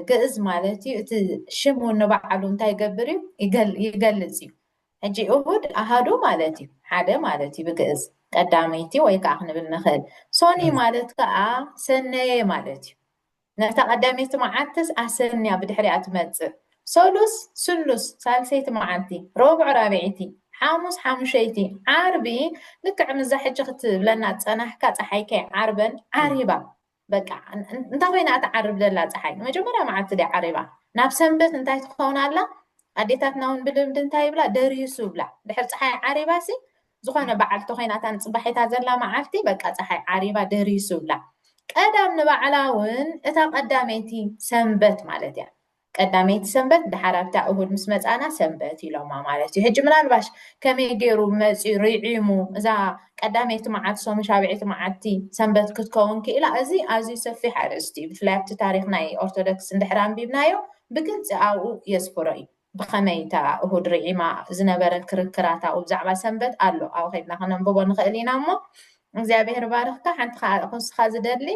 ግእዝ ማለት እዩ እቲ ሽም እውን ንበዓሉ እንታይ ይገብር እዩ ይገልጽ እዩ ሕጂ እሁድ ኣሃዱ ማለት እዩ ሓደ ማለት እዩ ብግእዝ ቀዳመይቲ ወይ ከዓ ክንብል ንኽእል ሶኒ ማለት ከዓ ሰነየ ማለት እዩ ነታ ቀዳመይቲ መዓልትስ ኣሰንያ ብድሕሪኣ ትመጽእ፣ ሰሉስ ስሉስ ሳልሰይቲ መዓልቲ፣ ረቡዕ ራብዐይቲ፣ ሓሙስ ሓሙሸይቲ፣ ዓርቢ ልክዕ ምስዛ ሕጂ ክትብለና ዝጸናሕካ ጸሓይ ከይ ዓርበን ዓሪባ። በቃ እንታይ ኮይና እያ ትዓርብ ዘላ ጸሓይ? መጀመርያ መዓልቲ ድያ ዓሪባ? ናብ ሰንበት እንታይ ትኸውን ኣላ? ኣዴታትና እውን ብልምዲ እንታይ ይብላ? ደሪሱ ይብላ። ድሕሪ ጸሓይ ዓሪባሲ ዝኾነ በዓልቲ ኮይና እታ ንጽባሒታ ዘላ መዓልቲ በቃ ጸሓይ ዓሪባ ደሪሱላ። ቀዳም ንባዕላ ውን እታ ቀዳመይቲ ሰንበት ማለት እያ። ቀዳመይቲ ሰንበት ደሓር ኣብታ እሁድ ምስ መጻና ሰንበት ኢሎማ ማለት እዩ። ሕጂ ምናልባሽ ከመይ ገይሩ መጽዩ ርዒሙ እዛ ቀዳመይቲ መዓልቲ ሰሙን ሻብዒቲ መዓልቲ ሰንበት ክትከውን ክኢላ እዚ ኣዝዩ ሰፊሕ ኣርእስቲ እዩ። ብፍላይ ኣብቲ ታሪኽ ናይ ኦርቶዶክስ እንድሕር ኣንቢብናዮ ብግልጺ ኣብኡ የስፍሮ እዩ። ብኸመይ እታ እሁድ ርዒማ ዝነበረት ክርክራት ኣብኡ ብዛዕባ ሰንበት ኣሎ ኣብኡ ከድና ከነንብቦ ንኽእል ኢና እሞ እግዚኣብሔር ባርኽካ ሓንቲ ከኣ ክውስኻ ዝደሊ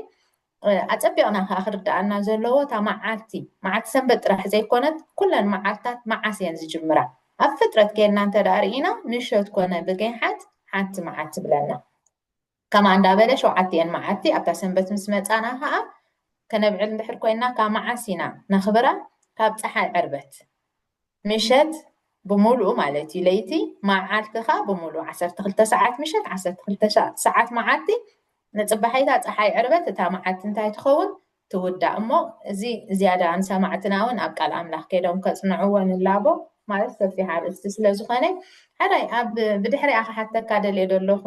ኣጸቢቕና ከኣ ክርድኣና ዘለዎ እታ መዓልቲ መዓልቲ ሰንበት ጥራሕ ዘይኮነት ኩለን መዓልትታት መዓስ እየን ዝጅምራ ኣብ ፍጥረት ኬድና እንተ ርኢና ምሸት ኮነ ብገይሓት ሓንቲ መዓልቲ ብለና ከምኣ እንዳ በለ ሸውዓቲኤን መዓልቲ ኣብታ ሰንበት ምስ መጻና ከኣ ከነብዕል እንድሕር ኮይንና ካብ መዓስ ኢና ነኽብራ ካብ ጸሓይ ዕርበት ምሸት ብምሉኡ ማለት እዩ ለይቲ መዓልቲ ከኣ ብምሉኡ ዓሰርተ ክልተ ሰዓት ምሸት ዓሰርተ ክልተ ሰዓት መዓልቲ ንጽባሒታ ጸሓይ ዕርበት እታ መዓልቲ እንታይ ትኸውን ትውዳእ እሞ እዚ ዝያዳ ንሰማዕትና ውን ኣብ ቃል ኣምላኽ ከይዶም ከጽንዕዎ ንላቦ ማለት ሰፊሕ ኣርእስቲ ስለ ዝኾነ ሕራይ ኣብ ብድሕሪኣ ክሓተካ ደልየ ደለኹ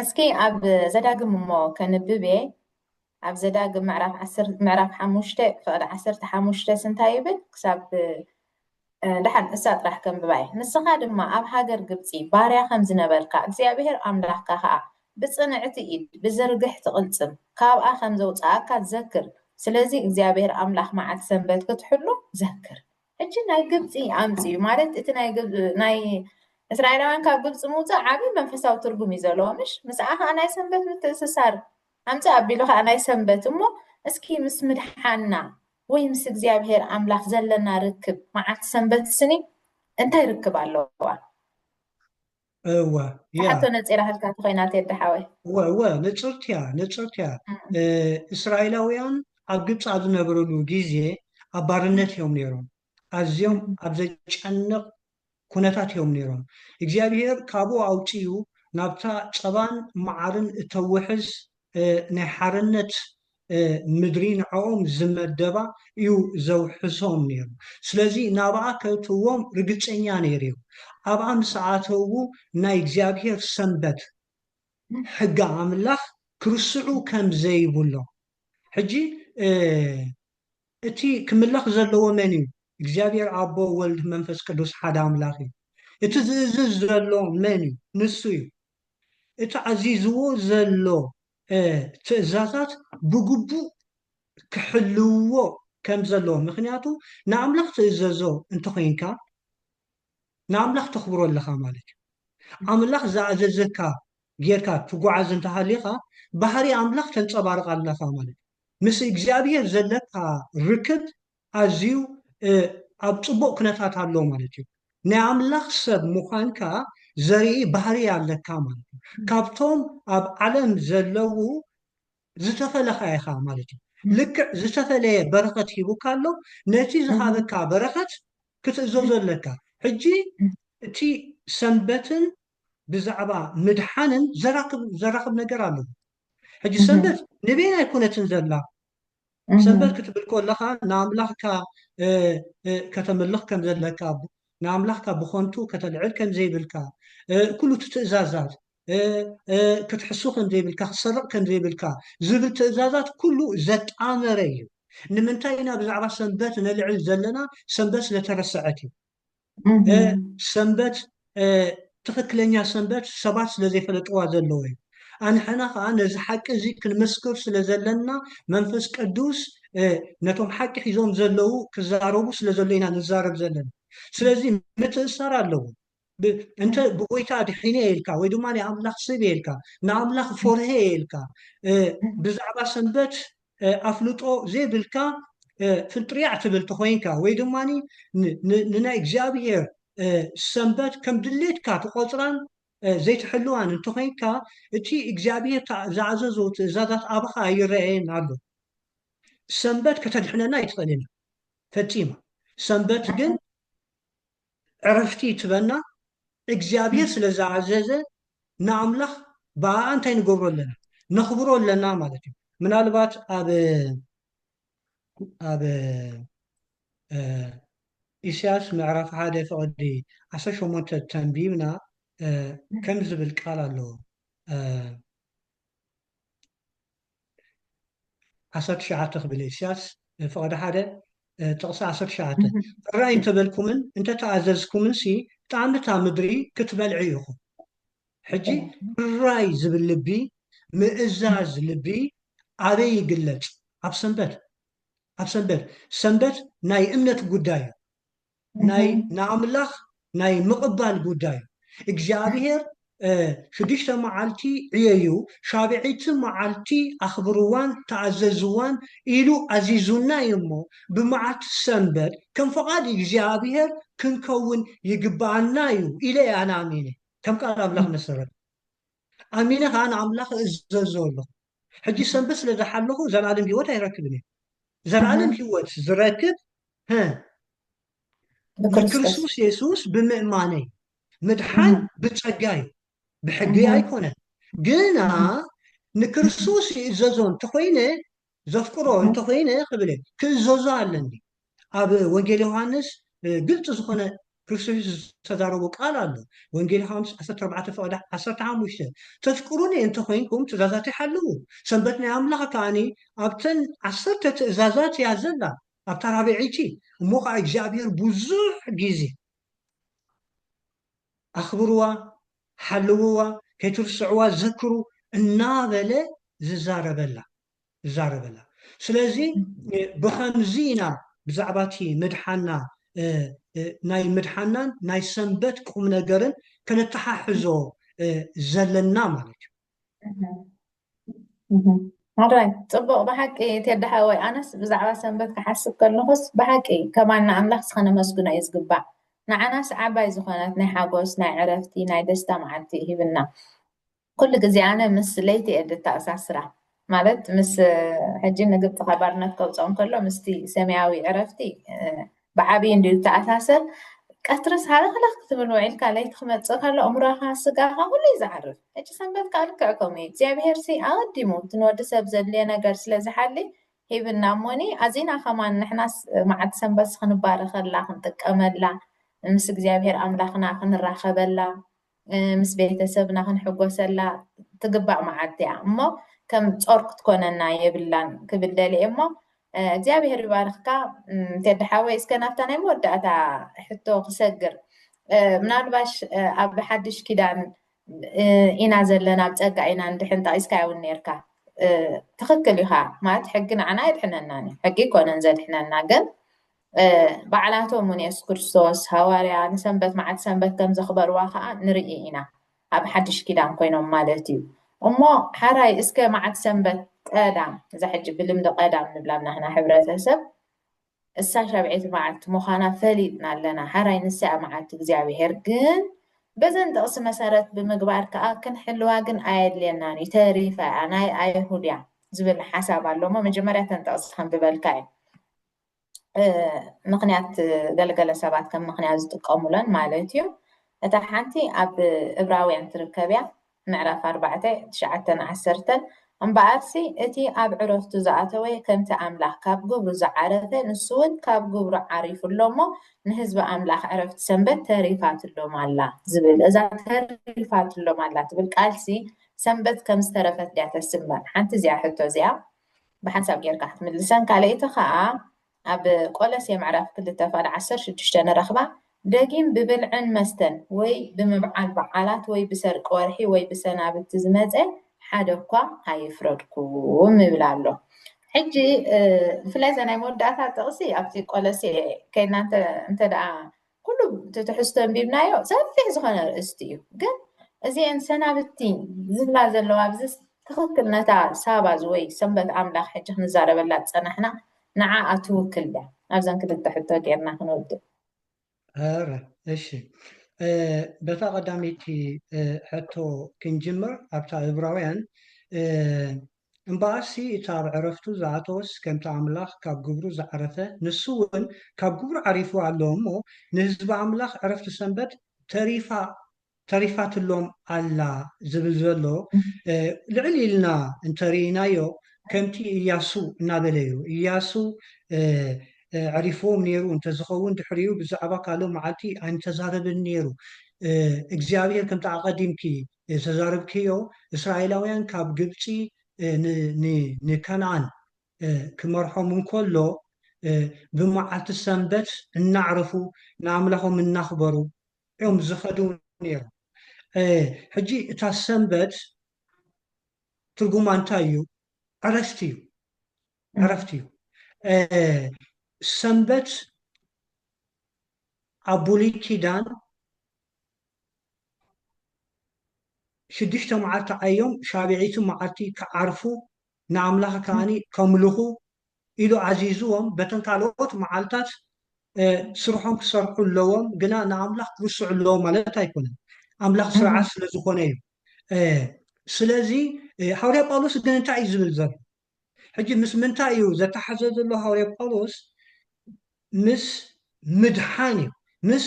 እስኪ ኣብ ዘዳግም እሞ ከንብብ እየ ኣብ ዘዳግም ምዕራፍ ምዕራፍ ሓሙሽተ ፍቕዲ ዓሰርተ ሓሙሽተ ስንታይ ይብል ክሳብ ደሓን ንሳ ጥራሕ ከንብባ'የ። ንስኻ ድማ ኣብ ሃገር ግብጺ ባርያ ከም ዝነበርካ፣ እግዚኣብሄር ኣምላኽካ ኸኣ ብጽንዕቲ ኢድ፣ ብዝርግሕቲ ቕልጽም፣ ካብኣ ኸም ዘውጽኣካ ዘክር። ስለዚ፣ እግዚኣብሄር ኣምላኽ መዓልቲ ሰንበት ክትሕሉ ዘክር። ሕጂ ናይ ግብጺ ኣምጽኡ ማለት እቲ ናይ እስራኤላውያን ካብ ግብጺ ምውጻእ ዓቢ መንፈሳዊ ትርጉም እዩ ዘለዎ ምሽ ምስኣ ከኣ ናይ ሰንበት ምትእስሳር ኣምጽእ ኣቢሉ ከኣ ናይ ሰንበት እሞ እስኪ ምስ ምድሓና ወይ ምስ እግዚኣብሄር ኣምላኽ ዘለና ርክብ መዓልቲ ሰንበት ስኒ እንታይ ርክብ ኣለዋ? እወ እያ ትሓቶ ነጺራ ህልካ ተኾይና ቴዲ ሓወይ። እወ እወ ንጽርቲ እያ ንጽርቲ እያ እስራኤላውያን ኣብ ግብጺ ኣብ ዝነበርሉ ግዜ ኣብ ባርነት እዮም ነይሮም ኣዝዮም ኣብ ዘጨንቕ ኩነታት እዮም ነይሮም። እግዚኣብሄር ካብኡ ኣውጺኡ ናብታ ጸባን መዓርን እተውሕዝ ናይ ሓርነት ምድሪ ንዕኦም ዝመደባ እዩ ዘውሕሶም ነይሩ። ስለዚ ናብኣ ከእትዎም ርግጸኛ ነይሩ እዩ። ኣብኣ ምስ ኣተዉ ናይ እግዚኣብሄር ሰንበት ሕጊ ኣምላኽ ክርስዑ ከም ዘይብሎም ሕጂ እቲ ክምለኽ ዘለዎ መን እዩ? እግዚኣብሔር ኣቦ ወልድ መንፈስ ቅዱስ ሓደ ኣምላኽ እዩ። እቲ ዝእዝዝ ዘሎ መን እዩ? ንሱ እዩ። እቲ ኣዚዝዎ ዘሎ ትእዛዛት ብግቡእ ክሕልውዎ ከም ዘለዎ ምኽንያቱ ንኣምላኽ ትእዘዞ እንተኾይንካ ንኣምላኽ ተኽብሮ ኣለኻ ማለት እዩ። ኣምላኽ ዝኣዘዘካ ጌርካ ትጉዓዝ እንተሃሊኻ ባህሪ ኣምላኽ ተንጸባርቕ ኣለኻ ማለት እዩ። ምስ እግዚኣብሄር ዘለካ ርክብ ኣዝዩ ኣብ ጽቡቅ ኩነታት ኣሎ ማለት እዩ። ናይ ኣምላኽ ሰብ ምዃንካ ዘርኢ ባህርይ ኣለካ ማለት እዩ። ካብቶም ኣብ ዓለም ዘለዉ ዝተፈለኻ ኢኻ ማለት እዩ። ልክዕ ዝተፈለየ በረኸት ሂቡካ ኣሎ፣ ነቲ ዝሃበካ በረኸት ክትእዘዞ ኣለካ። ሕጂ እቲ ሰንበትን ብዛዕባ ምድሓንን ዘራክብ ነገር ኣለዎ። ሕጂ ሰንበት ንበይና ኣይኮነትን ዘላ ሰንበት ክትብል ከለኻ ንኣምላኽካ ከተምልኽ ከም ዘለካ ንኣምላኽካ ብኾንቱ ከተልዕል ከም ዘይብልካ ኩሉ እቲ ትእዛዛት ክትሕሱ ከም ዘይብልካ ክትሰርቕ ከም ዘይብልካ ዝብል ትእዛዛት ኩሉ ዘጣመረ እዩ ንምንታይ ኢና ብዛዕባ ሰንበት ነልዕል ዘለና ሰንበት ስለተረስዐት እዩ ሰንበት ትኽክለኛ ሰንበት ሰባት ስለ ዘይፈለጥዋ ዘለዎ እዩ ኣንሕና ከዓ ነዚ ሓቂ እዚ ክንምስክር ስለ ዘለና መንፈስ ቅዱስ ነቶም ሓቂ ሒዞም ዘለዉ ክዛረቡ ስለ ዘሎ ኢና ንዛረብ ዘለና ስለዚ ምትእሳር ኣለዎ እንተ ብጎይታ ድሒነ የልካ ወይ ድማ ንኣምላኽ ስብ የልካ ንኣምላኽ ፎርሀ የልካ ብዛዕባ ሰንበት ኣፍልጦ ዘይብልካ ፍንጥርያዕ ትብል ተኾይንካ ወይ ድማ ንናይ እግዚኣብሄር ሰንበት ከም ድሌትካ ትቖጽራን ዘይትሕልዋን እንተኾይንካ እቲ እግዚኣብሄር ዝኣዘዞ ትእዛዛት ኣባኻ ኣይረኣየን ኣሎ። ሰንበት ከተድሕነና ኣይትኽእልን እያ ፈጺማ። ሰንበት ግን ዕረፍቲ ትበና እግዚኣብሔር ስለ ዝኣዘዘ ንኣምላኽ ብኣኣ እንታይ ንገብሮ ኣለና ነኽብሮ ኣለና ማለት እዩ ምናልባት ኣብ ኣብ ኢሳያስ ምዕራፍ ሓደ ፍቕዲ ዓሰርተ ሸሞንተ ተንቢብና ከም ዝብል ቃል ኣለዎ ዓሰርተ ትሽዓተ ክብል እየ ኢሳያስ ፍቐደ ሓደ ጥቕሲ ዓሰርተ ትሽዓተ እራይ እንተበልኩምን እንተተኣዘዝኩምንሲ ጣዕሚ እታ ምድሪ ክትበልዑ ኢኹም ሕጂ እራይ ዝብል ልቢ ምእዛዝ ልቢ ኣበይ ይግለጽ ኣብ ሰንበት ኣብ ሰንበት ሰንበት ናይ እምነት ጉዳይ እዩ ናይ ንኣምላኽ ናይ ምቕባል ጉዳይ እዩ። እግዚኣብሄር ሽዱሽተ መዓልቲ ዕየዩ፣ ሻብዐይቲ መዓልቲ ኣኽብርዋን ተኣዘዝዋን ኢሉ ኣዚዙና እዩ እሞ፣ ብመዓልቲ ሰንበት ከም ፍቓድ እግዚኣብሄር ክንከውን ይግብኣና እዩ ኢለ እየ ኣነ ኣሚነ፣ ከም ቃል ኣምላኽ መሰረት። ኣሚነ ኸኣ ንኣምላኽ እእዘዞ ኣሎኹ። ሕጂ ሰንበት ስለ ዝሓለኹ ዘለኣለም ህይወት ኣይረክብን እየ። ዘለኣለም ህይወት ዝረክብ ሀ ንክርስቶስ የሱስ ብምእማነይ ምድሓን ብጸጋ እዩ፣ ብሕጊ ኣይኮነን። ግና ንክርስቶስ ይእዘዞ እንተኾይነ ዘፍቅሮ እንተኾይነ ክብል ክእዘዞ ኣለኒ። ኣብ ወንጌል ዮሃንስ ግልፂ ዝኾነ ክርስቶስ የሱስ ዝተዛረቦ ቃል ኣሎ። ወንጌል ዮሃንስ ዓሰርተ ኣርባዕተ ፍቕዲ ዓሰርተ ሓሙሽተ ተፍቅሩኒ እንተኾይንኩም ትእዛዛተይ ሓልዉ። ሰንበት ናይ ኣምላኽ ከኣኒ ኣብተን ዓሰርተ ትእዛዛት እያ ዘላ ኣብታ ራብዐይቲ እሞ ከኣ እግዚኣብሔር ብዙሕ ጊዜ ኣኽብርዋ ሓልውዋ ከይትርስዕዋ ዘክሩ እናበለ ዝዛረበላ ዝዛረበላ ስለዚ ብኸምዚ ኢና ብዛዕባ እቲ ምድሓና ናይ ምድሓናን ናይ ሰንበት ቁምነገርን ከነተሓሕዞ ዘለና ማለት እዩ። ሕራይ ጽቡቕ ብሓቂ ቴዲ ሓወይ ኣነስ ብዛዕባ ሰንበት ክሓስብ ከለኹስ ብሓቂ ከማና ኣምላኽስ ከነመስግኖ እዩ ዝግባእ ንዓናስ ዓባይ ዝኾነት ናይ ሓጎስ ናይ ዕረፍቲ ናይ ደስታ መዓልቲ እዩ ሂብና ኩሉ ግዜ ኣነ ምስ ለይቲ እየ ድተኣሳስራ ማለት ምስ ሕጂ ንግብፂ ካብ ባርነት ከውፅኦም ከሎ ምስቲ ሰማያዊ ዕረፍቲ ብዓብዪ እንድዩ ዝተኣሳሰር ቀትርስ ሃለኽለኽ ክትብል ውዒልካ ለይቲ ክመጽእ ከሎ እምሮኻ ስጋኻ ኩሉ እዩ ዝዓርፍ ሕጂ ሰንበት ከዓ ልክዕ ከምኡ እዩ እግዚኣብሄርሲ ኣቐዲሙ እቲ ንወዲ ሰብ ዘድልዮ ነገር ስለ ዝሓሊ ሂብና እሞኒ ኣዚና ከማን ንሕናስ መዓልቲ ሰንበት ክንባረኸላ ክንጥቀመላ ምስ እግዚኣብሄር ኣምላኽና ክንራኸበላ ምስ ቤተሰብና ክንሕጎሰላ ትግባእ መዓልቲ እያ እሞ ከም ጾር ክትኮነና የብላን ክብል ደልየ እሞ እግዚኣብሔር ይባርኽካ ቴዲ ሓወይ እስከ ናብታ ናይ መወዳእታ ሕቶ ክሰግር ምናልባሽ ኣብ ሓድሽ ኪዳን ኢና ዘለና ኣብ ጸጋ ኢና እንድሕን ጠቒስካ እውን ነርካ ትኽክል ኢኻ ማለት ሕጊ ንዓና የድሕነናን እዩ ሕጊ ይኮነን ዘድሕነና ግን ባዕላቶም እውን የሱስ ክርስቶስ፣ ሃዋርያ፣ ንሰንበት መዓልቲ ሰንበት ከም ዘኽበርዋ ከኣ ንርኢ ኢና፣ ኣብ ሓድሽ ኪዳን ኮይኖም ማለት እዩ። እሞ ሓራይ እስከ መዓልቲ ሰንበት ቀዳም፣ እዛ ሕጂ ብልምዲ ቀዳም ንብላ ኣብ ናህና ሕብረተሰብ፣ እሳ ሻብዒት መዓልቲ ምዃና ፈሊጥና ኣለና፣ ሓራይ ንሳ እያ መዓልቲ እግዚኣብሄር፣ ግን በዘን ጥቕሲ መሰረት ብምግባር ከኣ ክንሕልዋ ግን ኣየድልየናን እዩ፣ ተሪፋ እያ፣ ናይ ኣይሁድ እያ ዝብል ሓሳብ ኣሎ እሞ መጀመርያ እተን ጥቕሲ ከንብበልካ እየ። ምክንያት ገለገለ ሰባት ከም ምክንያት ዝጥቀሙለን ማለት እዩ እታ ሓንቲ ኣብ እብራውያን ትርከብ እያ ምዕራፍ ኣርባዕተ ትሽዓተን ዓሰርተን እምበኣርሲ እቲ ኣብ ዕረፍቱ ዝኣተወ ከምቲ ኣምላኽ ካብ ግብሩ ዝዓረፈ ንሱ እውን ካብ ግብሩ ዓሪፉ ኣሎ እሞ ንህዝቢ ኣምላኽ ዕረፍቲ ሰንበት ተሪፋትሎም ኣላ ዝብል እዛ ተሪፋትሎም ኣላ ትብል ቃልሲ ሰንበት ከም ዝተረፈት ድያ ተስምዕ ሓንቲ እዚኣ ሕቶ እዚኣ ብሓንሳብ ጌርካ ክትምልሰን ካልኣይቲ ከኣ ኣብ ቆለሴ ምዕራፍ ክልተ ፋል ዓሰርተ ሽዱሽተ ንረኽባ ደጊም ብብልዕን መስተን ወይ ብምብዓል በዓላት ወይ ብሰርቂ ወርሒ ወይ ብሰናብቲ ዝመጸ ሓደ እኳ ኣይፍረድኩም ይብል ኣሎ ሕጂ ብፍላይ እዛ ናይ መወዳእታ ጥቕሲ ኣብቲ ቆለሴ ከይድና እንተ እንተ ደኣ ኩሉ እቲ ትሕዝቶ ኣንቢብናዮ ሰፊሕ ዝኾነ ርእስቲ እዩ ግን እዚኤን ሰናብቲ ዝብላ ዘለዋ ኣብዚ ትኽክል ነታ ሳባ ወይ ሰንበት ኣምላኽ ሕጂ ክንዛረበላ ዝጸናሕና ንዓኣ ትውክል ድያ ኣብዘን ክልተ ሕቶ ጌርና ክንውድእ ኧረ እሺ በታ ቀዳመይቲ ሕቶ ክንጅምር ኣብታ እብራውያን እምበኣርሲ እቲ ኣብ ዕረፍቱ ዝኣተወስ ከምቲ ኣምላኽ ካብ ግብሩ ዝዓረፈ ንሱውን ካብ ግብሩ ዓሪፉ ኣሎ እሞ ንህዝቢ ኣምላኽ ዕረፍቲ ሰንበት ተሪፋ ተሪፋትሎም ኣላ ዝብል ዘሎ ልዕል ኢልና እንተ ርኢናዮ ከምቲ ኢያሱ እናበለ እዩ ኢያሱ ኣዕሪፍዎም ነይሩ እንተ ዝኸውን ድሕሪኡ ብዛዕባ ካልእ መዓልቲ ኣይምተዛረበን ነይሩ እግዚኣብሄር ከምቲ ኣቐዲምኪ ዝተዛረብክዮ እስራኤላውያን ካብ ግብጺ ንከንኣን ክመርሖም እንከሎ ብመዓልቲ ሰንበት እናዕረፉ ንኣምላኾም እናኽበሩ እዮም ዝኸዱ ነይሮም ሕጂ እታ ሰንበት ትርጉማ እንታይ እዩ ዕረፍቲ እዩ ዕረፍቲ እዩ ሰንበት ኣብ ብሉይ ኪዳን ሽዱሽተ መዓልቲ ዓዮም፣ ሻብዒቱ መዓልቲ ኪዓርፉ፣ ንኣምላኽ ከኣ ከምልኹ፣ ኢሉ ኣዚዝዎም፣ በተን ካልኦት መዓልታት ስርሖም ኪሰርሑ ኣለዎም፣ ግና ንኣምላኽ ኪርስዑ ኣለዎም ማለት ኣይኮነን። ኣምላኽ ስርዓት ስለ ዝኾነ እዩ። ስለዚ፣ ሃዋርያ ጳውሎስ ግን እንታይ እዩ ዚብል ዘሎ? ሕጂ ምስ ምንታይ እዩ ዘተሓዘ ዘሎ ሃዋርያ ጳውሎስ ምስ ምድሓን እዩ ምስ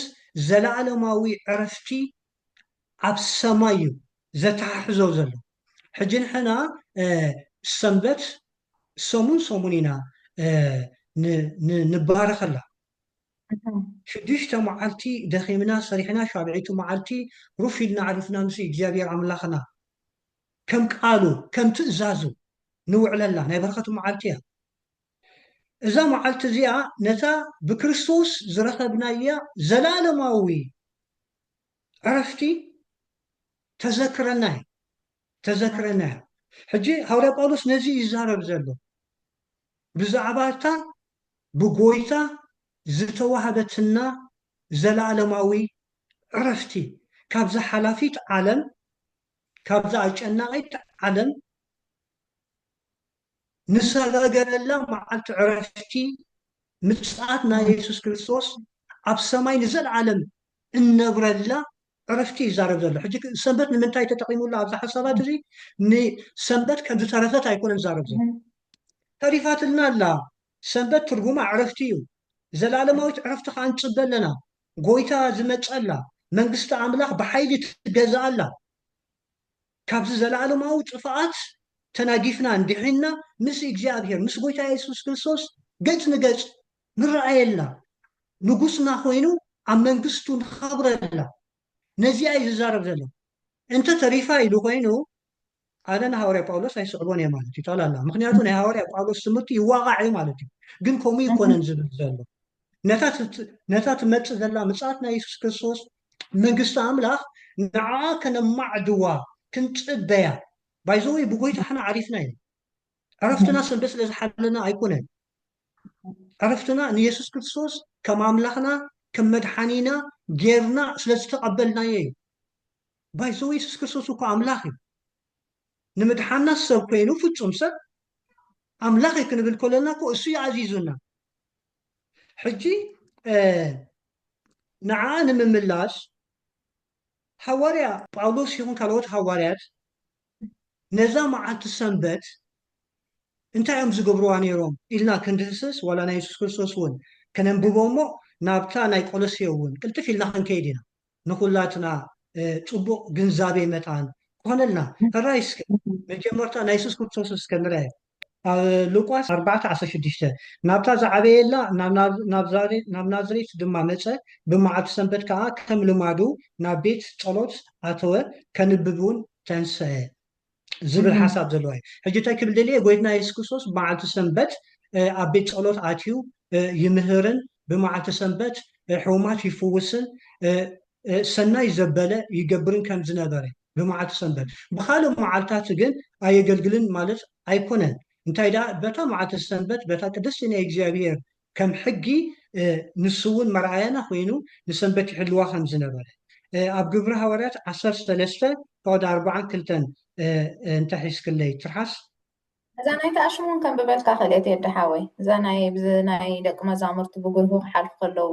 ዘለኣለማዊ ዕረፍቲ ኣብ ሰማይ እዩ ዘተሓሕዞ ዘሎ ሕጂ ንሕና ሰንበት ሰሙን ሰሙን ኢና ንባረኸላ ሽዱሽተ መዓልቲ ደኺምና ሰሪሕና ሻብዒቱ መዓልቲ ሩፍ ኢልና ዕሪፍና ምስ እግዚኣብሔር ኣምላኽና ከም ቃሉ ከም ትእዛዙ ንውዕለላ ናይ በረኸት መዓልቲ እያ። እዛ መዓልቲ እዚኣ ነታ ብክርስቶስ ዝረኸብናያ ዘላለማዊ ዕረፍቲ ተዘክረና እያ ተዘክረና እያ። ሕጂ ሃዋርያ ጳውሎስ ነዚ እዩ ይዛረብ ዘሎ ብዛዕባ እታ ብጎይታ ዝተዋህበትና ዘላለማዊ ዕረፍቲ ካብዛ ሓላፊት ዓለም ካብዛ ኣጨናቒት ዓለም ንሰጋገረላ መዓልቲ ዕረፍቲ ምጽኣት ናይ የሱስ ክርስቶስ ኣብ ሰማይ ንዘለዓለም እንነብረላ ዕረፍቲ እዩ ዝዛረብ ዘሎ። ሕጂ ሰንበት ንምንታይ ተጠቒሙላ ኣብዚ ሓሳባት እዚ ንሰንበት ከም ዝተረፈት ኣይኮነን ዝዛረብ ዘሎ። ተሪፋትልና ኣላ። ሰንበት ትርጉማ ዕረፍቲ እዩ። ዘለኣለማዊት ዕረፍቲ ከኣ ንጽበ ኣለና። ጎይታ ዝመጸላ መንግስቲ ኣምላኽ ብሓይሊ ትገዝኣላ ካብዚ ዘልኣለማዊ ጥፍኣት ተናጊፍናን ዲሒንና ምስ እግዚኣብሄር ምስ ጎይታ የሱስ ክርስቶስ ገጽ ንገጽ ንረኣየላ ንጉስና ኮይኑ ኣብ መንግስቱ ንኸብረላ ነዚኣ እዩ ዝዛረብ ዘሎ እንተ ተሪፋ ኢሉ ኮይኑ ኣነ ንሃዋርያ ጳውሎስ ኣይስዕቦን እየ ማለት እዩ ጠላላ ምክንያቱ ናይ ሃዋርያ ጳውሎስ ትምህርቲ ይዋቃዕ እዩ ማለት እዩ ግን ከምኡ ይኮነን ዝብል ዘሎ ነታ ትመፅእ ዘላ ምፅኣት ናይ የሱስ ክርስቶስ መንግስቲ ኣምላኽ ንዓ ከነማዕድዋ ክንፅበያ ባይዘወይ ብጎይታ ሕና ዓሪፍና እዩ ዕረፍትና ሰንበት ስለ ዝሓለና ኣይኮነን ዕረፍትና ንየሱስ ክርስቶስ ከም ኣምላኽና ከም መድሓኒና ጌርና ስለ ዝተቐበልናዮ እዩ ባይዘወይ የሱስ ክርስቶስ እኮ ኣምላኽ እዩ ንምድሓና ሰብ ኮይኑ ፍጹም ሰብ ኣምላኽ እዩ ክንብል ከለና እኮ እሱ እዩ ኣዚዙና ሕጂ ንዓ ንምምላስ ሃዋርያ ጳውሎስ ይኹን ካልኦት ሃዋርያት ነዛ መዓልቲ ሰንበት እንታይ እዮም ዝገብርዋ ነይሮም ኢልና ክንድህስስ ዋላ ናይ የሱስ ክርስቶስ እውን ከነንብቦ እሞ ናብታ ናይ ቆሎሴ እውን ቅልጥፍ ኢልና ክንከይድ ኢና ንኩላትና ጽቡቅ ግንዛቤ መታን ክኮነልና ሕራይ እስከ መጀመርታ ናይ የሱስ ክርስቶስ እስከ ንርኣይ ኣብ ሉቃስ ኣርባዕተ ዓሰርተ ሽዱሽተ ናብታ ዝዓበየላ ናብ ናዝሬት ድማ መጸ ብመዓልቲ ሰንበት ከኣ ከም ልማዱ ናብ ቤት ጸሎት ኣተወ ከንብብ ውን ተንስኣ ዝብል ሓሳብ ዘለዋ እዩ። ሕጂ እንታይ ክብል ደልየ ጎይትና የሱስ ክርስቶስ መዓልቲ ሰንበት ኣብ ቤት ጸሎት ኣትዩ ይምህርን ብመዓልቲ ሰንበት ሕሙማት ይፍውስን ሰናይ ዘበለ ይገብርን ከም ዝነበረ ብመዓልቲ ሰንበት ብካልእ መዓልታት ግን ኣየገልግልን ማለት ኣይኮነን እንታይ ደኣ በታ መዓልቲ ሰንበት በታ ቅድስቲ ናይ እግዚኣብሄር ከም ሕጊ ንሱውን መርኣያና ኮይኑ ንሰንበት ይሕልዋ ከም ዝነበረ ኣብ ግብሪ ሃዋርያት ዓሰርተ ሰለስተ ፍቕድ ኣርብዓን ክልተን እንተ ሒዝክለይ ትርሓስ። እዛ ናይ ተኣሽሙ ውን ከንብበልካ ክእለ ቴዲ ሓወይ እዛ ናይ ብዚ ናይ ደቂ መዛሙርቲ ብጉልሁ ክሓልፉ ከለዉ።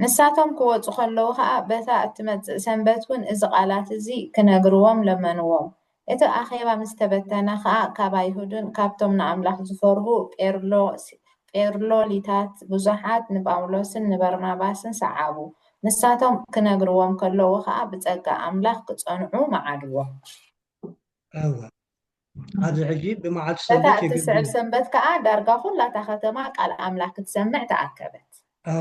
ንሳቶም ኪወጹ ኸለዉ ኸኣ፣ በታ እትመጽእ ሰንበት እውን እዚ ቓላት እዚ ኺነግርዎም ለመንዎም። እቲ ኣኼባ ምስ ተበተነ ኸኣ፣ ካብ ኣይሁድን ካብቶም ንኣምላኽ ዚፈርሁ ጴርሎሊታትን ብዙሓት ንጳውሎስን ንበርናባስን ሰዓቡ። ንሳቶም ኪነግርዎም ከለዉ ኸኣ፣ ብጸጋ ኣምላኽ ኪጸንዑ መዓድዎም። ኣብዚ ሕጂ ብመዓልቲ በታ ሰንበት እትስዕብ የገልግሉ። ሰንበት ከኣ ዳርጋ ዅላ እታ ኸተማ ቃል ኣምላኽ ክትሰምዕ ተኣከበት።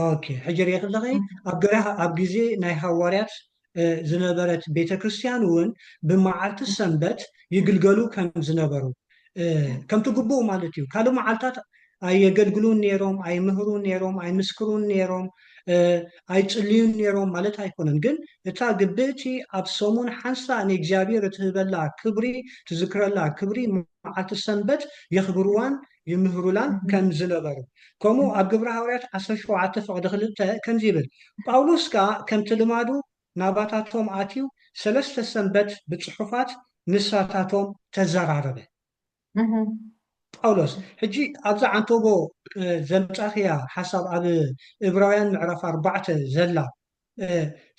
ኦኬ ሕጂ ርኢኺ ኣለኺ ኣብ ገራ ኣብ ግዜ ናይ ሃዋርያት እ፣ ዝነበረት ቤተ ክርስቲያን እውን ብመዓልቲ ሰንበት ይግልገሉ ከም ዝነበሩ እ፣ ከምቲ ግቡእ ማለት እዩ ካልእ መዓልታት ኣየገልግሉን ነይሮም፣ ኣይምህሩን ነይሮም፣ ኣይምስክሩን ነይሮም፣ ኣይጽልዩን ነይሮም ማለት ኣይኮነን። ግን እታ ግብእቲ ኣብ ሰሙን ሓንሳእ ንእግዚኣብሔር እትህበላ ክብሪ፣ ትዝክረላ ክብሪ መዓልቲ ሰንበት የኽብርዋን ይምህሩላን ከም ዝነበሩ። ከምኡ ኣብ ግብረ ሃዋርያት ዓሰርተ ሸውዓተ ፍቕዲ ክልተ ከምዚ ይብል፣ ጳውሎስ ከኣ ከምቲ ልማዱ ናባታቶም ኣትዩ ሰለስተ ሰንበት ብጽሑፋት ንሳታቶም ተዘራረበ። ጳውሎስ ሕጂ ኣብዛ ዓንተቦ ዘምጻክያ ሓሳብ ኣብ እብራውያን ምዕራፍ ኣርባዕተ ዘላ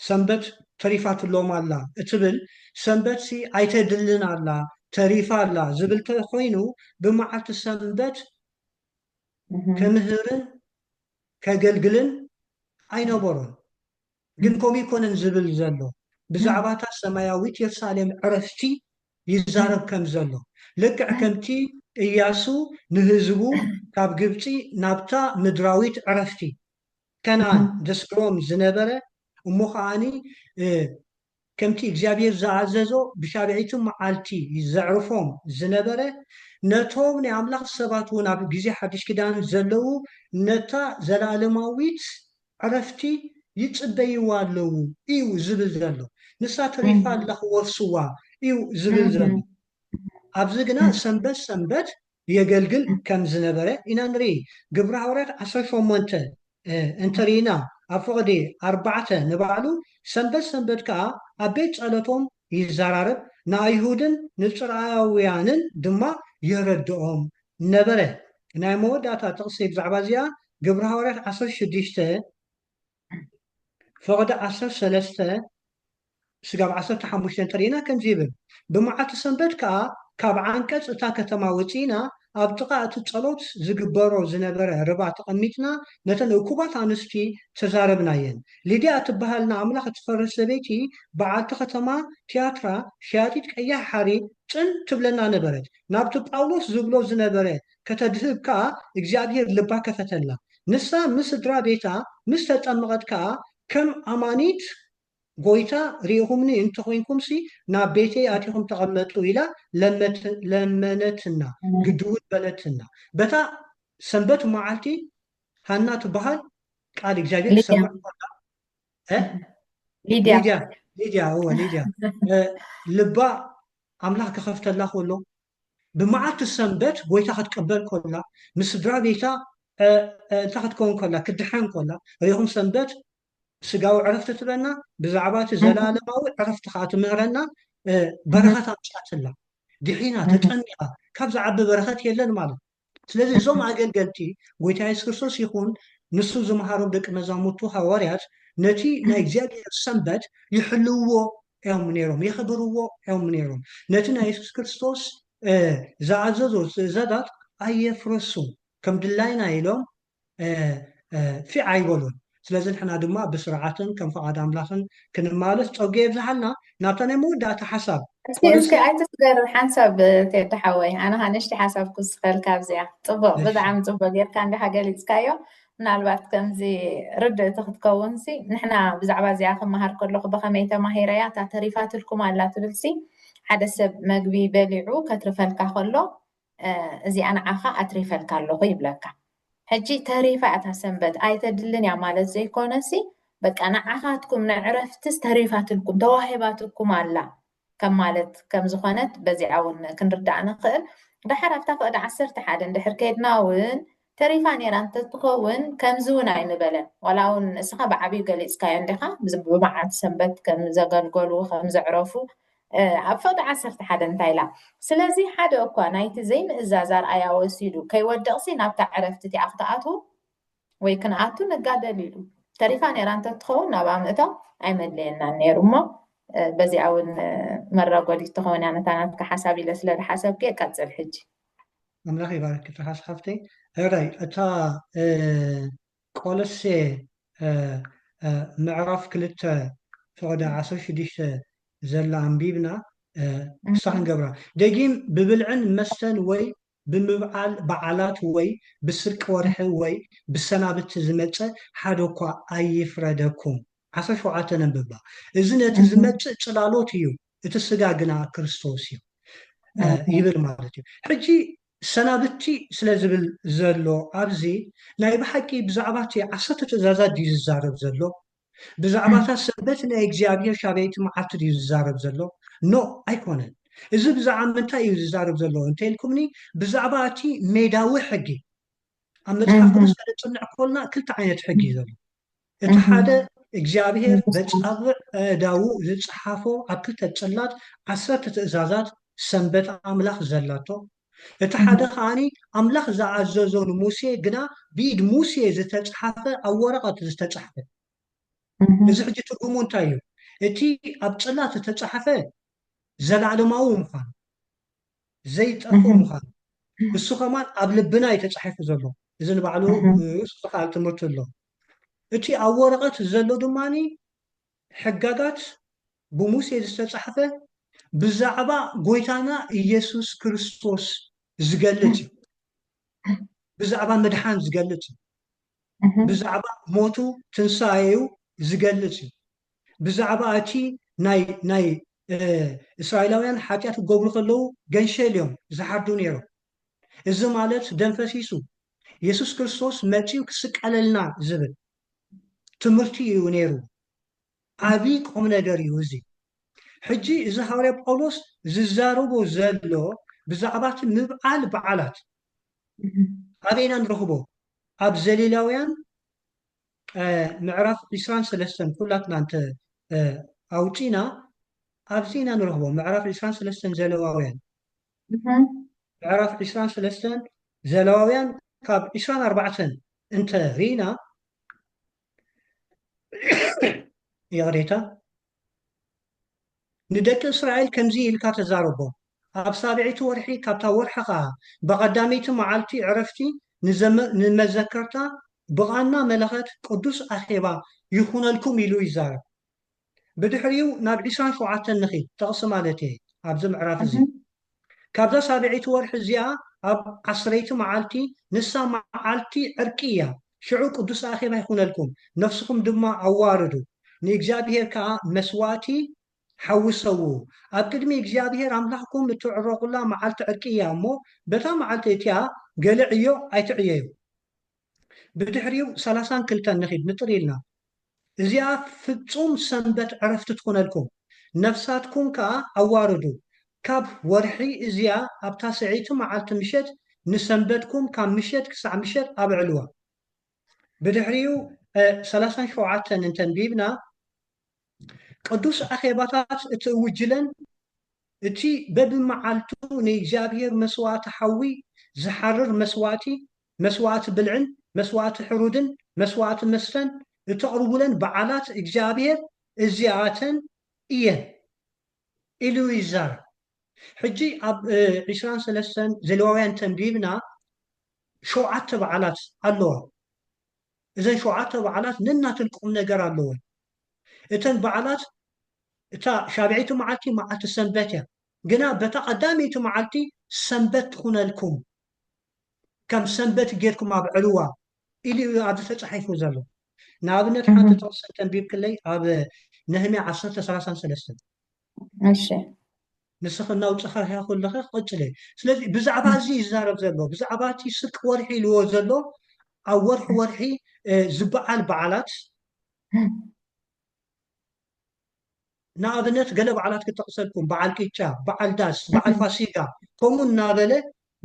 ሰንበት ተሪፋትሎም ኣላ እትብል ሰንበትሲ ኣይተድልን ኣላ ተሪፋ ኣላ ዝብል ተኮይኑ ብመዓልቲ ሰንበት ከምህርን ከገልግልን ኣይነበሮን። ግን ከምኡ ኣይኮነን ዝብል ዘሎ ብዛዕባ እታ ሰማያዊት የሩሳሌም ዕረፍቲ ይዛረብ ከም ዘሎ ልክዕ ከምቲ እያሱ ንህዝቡ ካብ ግብጺ ናብታ ምድራዊት ዕረፍቲ ከነኣን ዘስግሮም ዝነበረ እሞ ከኣ ከምቲ እግዚኣብሄር ዝኣዘዞ ብሻብዒቲ መዓልቲ ዘዕርፎም ዝነበረ፣ ነቶም ናይ ኣምላኽ ሰባት ውን ኣብ ግዜ ሓድሽ ኪዳን ዘለዉ ነታ ዘለኣለማዊት ዕረፍቲ ይጽበይዋ ኣለዉ እዩ ዝብል ዘሎ። ንሳ ተሪፋ ኣላ ክወርሱዋ እዩ ዝብል ዘሎ። ኣብዚ ግና ሰንበት ሰንበት የገልግል ከም ዝነበረ ኢና ንርኢ። ግብረ ሃዋርያት ዓሰርተ ሸሞንተ እንተ ርኢና ኣብ ፍቕዲ ኣርባዕተ ንባዕሉ ሰንበት ሰንበት ከኣ ኣብ ቤት ጸሎቶም ይዘራረብ ንኣይሁድን ንጽርኣውያንን ድማ የረድኦም ነበረ። ናይ መወዳእታ ጥቕሲ ብዛዕባ እዚኣ ግብረ ሃዋርያት ዓሰርተ ሽዱሽተ፣ ፈቕዲ ዓሰርተ ሰለስተ ስጋብ ዓሰርተ ሓሙሽተ እንተርኢና ከምዚ ይብል፣ ብመዓልቲ ሰንበት ከኣ ካብ ዓንቀጽ እታ ከተማ ወጺእና ኣብ ጥቓ እቲ ጸሎት ዝግበሮ ዝነበረ ርባ ተቐሚጥና ነተን እኩባት ኣንስቲ ተዛረብናየን። ሊድያ እትበሃል ንኣምላኽ እትፈርህ ሰበይቲ በዓልቲ ከተማ ትያትራ ሸያጢት ቀያሕ ሓሪ ጽን ትብለና ነበረት። ናብቲ ጳውሎስ ዝብሎ ዝነበረ ከተድህብ ከኣ እግዚኣብሄር ልባ ከፈተላ። ንሳ ምስ ስድራ ቤታ ምስ ተጠመቐት ከኣ ከም ኣማኒት ጐይታ ርኢኹምኒ እንተ ዄንኩምሲ ናብ ቤተይ ኣቲኹም ተቐመጡ ኢላ ለመነትና ግዲውን በለትና። በታ ሰንበት መዓልቲ ሃና ትበሃል ቃል እግዚኣብሄር ትሰምዕ ከላ ሊድያ ሊድያ እወ ሊድያ ልባ ኣምላኽ ክኸፍተላ ከሎ ብመዓልቲ ሰንበት ጐይታ ክትቅበል ከላ፣ ምስ ስድራ ቤታ እ እንተ ኽትከውን ከላ፣ ክትድሓን ከላ፣ ርኹም ሰንበት ስጋዊ ዕረፍቲ ትበና፣ ብዛዕባ እቲ ዘለኣለማዊ ዕረፍቲ ኸኣ ትምህረና እ በረኸት ኣምጽኣትላ። ድሒና፣ ተጠሚቓ፣ ካብ ዝዓቢ በረኸት የለን ማለት እዩ። ስለዚ እዞም ኣገልገልቲ ጎይታ የሱስ ክርስቶስ ይኹን ንሱ ዝመሃሮም ደቂ መዛሙርቱ ሃዋርያት ነቲ ናይ እግዚኣብሄር ሰንበት ይሕልውዎ እዮም ነይሮም፣ የኽብርዎ እዮም ነይሮም። ነቲ ናይ የሱስ ክርስቶስ ዝኣዘዞ ትእዛዛት ኣየፍረሱን፣ ከም ድላይና ኢሎም ፊዕ ኣይበሉን ስለዚ ንሕና ድማ ብስርዓትን ከም ፍቓድ ኣምላኽን ክንማለስ ጸጉ የብዝሓልና ናብታ ናይ መወዳእታ ሓሳብ እስኪ እስኪ ኣይትስገር ሓንሳብ ቴዲ ሓወይ ኣነ ኸ ንእሽቲ ሓሳብ ክውስኸልካ ኣብዚኣ ጽቡቕ ብጣዕሚ ጽቡቕ ጌርካ እንዲኻ ገሊጽካዮ ምናልባት ከምዚ ርድእቲ ክትከውንሲ ንሕና ብዛዕባ እዚኣ ክመሃር ከለኹ ብኸመይ ተማሂረያ እታ ተሪፋትልኩም ኣላ ትብልሲ ሓደ ሰብ መግቢ በሊዑ ከትርፈልካ ከሎ እዚኣ ንዓኻ ኣትሪፈልካ ኣለኹ ይብለካ። ሕጂ ተሪፋ እታ ሰንበት ኣይተድልን እያ ማለት ዘይኮነሲ በቃ ንዓኻትኩም ንዕረፍትስ ተሪፋትልኩም ተዋሂባትኩም ኣላ ከም ማለት ከም ዝኾነት በዚኣ እውን ክንርዳእ ንኽእል። ደሓር ኣብታ ፍቕዲ ዓሰርተ ሓደ እንድሕር ከይድና እውን ተሪፋ ኔራ እንተትኸውን ከምዚ ውን ኣይምበለን ዋላ ውን ንስኻ ብዓብዩ ገሊጽካዮ እንዲኻ ብመዓልቲ ሰንበት ከም ዘገልገሉ ከም ዘዕረፉ ኣብ ፍቕዲ ዓሰርተ ሓደ እንታይ ኢላ ስለዚ ሓደ እኳ ናይቲ ዘይምእዛዝ ኣርኣያ ወሲዱ ከይወድቕሲ ናብታ ዕረፍቲ እቲኣ ክትኣትዉ ወይ ክንኣቱ ንጋደል ኢሉ ተሪፋ ኔራ እንተትኸውን ናብኣ ምእታው ኣይመድለየናን ኔሩ እሞ በዚኣ ውን መራጎዲት ትኸውን እያ ነታ ናትካ ሓሳብ ኢለ ስለ ዝሓሰብኩ እየ ቀጽል ሕጂ ኣምላኽ ይባርኪ ትርሓስ ሓፍተይ ሕራይ እታ ቆሎሴ ምዕራፍ ክልተ ፍቕዲ ዓሰርተ ሽዱሽተ ዘላ ኣንቢብና ክሳዕ ክንገብራ ደጊም ብብልዕን መስተን ወይ ብምብዓል በዓላት ወይ ብስርቂ ወርሒ ወይ ብሰናብቲ ዝመጸ ሓደ እኳ ኣይፍረደኩም ዓሰርተ ሸውዓተ ነንብባ እዚ ነቲ ዝመጽእ ጽላሎት እዩ እቲ ስጋ ግና ክርስቶስ እዩ ይብል ማለት እዩ ሕጂ ሰናብቲ ስለ ዝብል ዘሎ ኣብዚ ናይ ብሓቂ ብዛዕባ እቲ ዓሰርተ ትእዛዛት ድዩ ዝዛረብ ዘሎ ብዛዕባታ ሰንበት ናይ እግዚኣብሔር ሻበይቲ መዓልቲ ድዩ ዝዛረብ ዘሎ ኖ ኣይኮነን እዚ ብዛዕባ ምንታይ እዩ ዝዛረብ ዘሎ እንተኢልኩምኒ ብዛዕባ እቲ ሜዳዊ ሕጊ ኣብ መጽሓፍ ቅዱስ ከነጽንዕ ኮልና ክልተ ዓይነት ሕጊ እዩ ዘሎ እቲ ሓደ እግዚኣብሔር በጻብዕ ኣእዳዉ ዝጸሓፎ ኣብ ክልተ ጽላት ዓሰርተ ትእዛዛት ሰንበት ኣምላኽ ዘላቶ እቲ ሓደ ከኣ ኣምላኽ ዝኣዘዞ ንሙሴ ግና ብኢድ ሙሴ ዝተጸሓፈ ኣብ ወረቐት ዝተጻሕፈ እዚ ሕጂ ትርጉሙ እንታይ እዩ እቲ ኣብ ጽላት ዝተጻሕፈ ዘለኣለማዊ ምዃኑ ዘይጠፍእ ምዃኑ እሱ ከማን ኣብ ልብና እዩ ተጻሒፉ ዘሎ እዚ ንባዕሉ ርእሱ ዝኸኣል ትምህርቲ ኣሎ እቲ ኣብ ወረቐት ዘሎ ድማኒ ሕጋጋት ብሙሴ ዝተጻሕፈ ብዛዕባ ጎይታና ኢየሱስ ክርስቶስ ዝገልጽ እዩ ብዛዕባ ምድሓን ዝገልጽ እዩ ብዛዕባ ሞቱ ትንሳኤኡ ዝገልጽ እዩ ብዛዕባ ኣቲ ናይ ናይ እስራኤላውያን ሓጢኣት ክገብሩ ከለዉ ገንሸል እዮም ዝሓርዱ ነይሮም። እዚ ማለት ደም ፈሲሱ የሱስ ክርስቶስ መጺኡ ክስቀለልና ዝብል ትምህርቲ እዩ ነይሩ። ዓቢ ቁም ነገር እዩ እዚ። ሕጂ እዚ ሃዋርያ ጳውሎስ ዝዛረቦ ዘሎ ብዛዕባ እቲ ምብዓል በዓላት ኣበይ ኢና ንረኽቦ? ኣብ ዘሊላውያን ምዕራፍ ዕስራን ሰለስተን ኩላትና እንተ ኣውጺእና ኣብዚ ኢና ንረኽቦ ምዕራፍ ዕስራን ሰለስተን ዘለዋውያን ምዕራፍ ዕስራን ሰለስተን ዘለዋውያን ካብ ዕስራን ኣርባዕተን እንተ ርኢና ይቕሬታ ንደቂ እስራኤል ከምዚ ኢልካ ተዛረቦም፣ ኣብ ሳብዐይቲ ወርሒ ካብታ ወርሒ ኸኣ፣ ብቐዳመይቲ መዓልቲ ዕረፍቲ ንመዘከርታ ብቓና መለኸት ቅዱስ ኣኼባ ይኹነልኩም ኢሉ ይዛረብ። ብድሕሪኡ ናብ ዕስራን ሸውዓተን ንኺድ፣ ጥቕሲ ማለት እየ ኣብዚ ምዕራፍ እዚ። ካብዛ ሳብዐይቲ ወርሒ እዚኣ ኣብ ዓስረይቲ መዓልቲ ንሳ መዓልቲ ዕርቂ እያ፣ ሽዑ ቅዱስ ኣኼባ ይኹነልኩም፣ ነፍስኹም ድማ ኣዋርዱ፣ ንእግዚኣብሄር ከኣ መስዋእቲ ሓዊ ሰውኡ፣ ኣብ ቅድሚ እግዚኣብሄር ኣምላኽኩም እትዕረቑላ መዓልቲ ዕርቂ እያ እሞ፣ በታ መዓልቲ እቲኣ ገለ ዕዮ ኣይትዕየዩ። ብድሕሪኡ ሰላሳን ክልተን ንኺድ ንጥር ኢልና፣ እዚኣ ፍጹም ሰንበት ዕረፍቲ ትኹነልኩም፣ ነፍሳትኩም ከኣ ኣዋርዱ፣ ካብ ወርሒ እዚኣ ኣብ ታስዐይቲ መዓልቲ ምሸት ንሰንበትኩም ካብ ምሸት ክሳዕ ምሸት ኣብዕልዋ። ብድሕሪኡ ሰላሳን ሸውዓተን እንተ ኣንቢብና፣ ቅዱስ ኣኼባታት እቲ እውጅለን እቲ በብመዓልቱ ንእግዚኣብሔር መሥዋዕቲ ሓዊ ዚሓርር መሥዋዕቲ፣ መሥዋዕቲ ብልዕን መሥዋዕቲ ሕሩድን መሥዋዕቲ መስተን እተቕርቡለን በዓላት እግዚኣብሔር እዚኣተን እየን ኢሉ ይዛረብ። ሕጂ ኣብ ዕስራን ሠለስተን ዘሌዋውያን ተንቢብና ሸውዓተ በዓላት ኣለዋ። እዘን ሸውዓተ በዓላት ነናተን ቁምነገር ኣለወን። እተን በዓላት እታ ሻብዐይቲ መዓልቲ መዓልቲ ሰንበት እያ፣ ግና በታ ቀዳመይቲ መዓልቲ ሰንበት ትኹነልኩም፣ ከም ሰንበት ጌርኩም ኣብዕልዋ ኢሉ እዩ ኣብዚ ተጻሒፉ ዘሎ። ንኣብነት ሓንቲ ጥቕሲ እንተ ኣንቢብክለይ ኣብ ነህምያ ዓሰርተ ሰላሳን ሰለስተን። እሺ ንስኺ እናውጻኻያ ከለኺ ቀጽልየ። ስለዚ ብዛዕባ እዚ እዩ ዝዛረብ ዘሎ፣ ብዛዕባ እቲ ስቅ ወርሒ ኢልዎ ዘሎ ኣብ ወርሒ ወርሒ ዝበዓል በዓላት ንኣብነት ገለ በዓላት ክጠቕሰልኩም፣ በዓል ቅጫ፣ በዓል ዳስ፣ በዓል ፋሲጋ ከምኡ እናበለ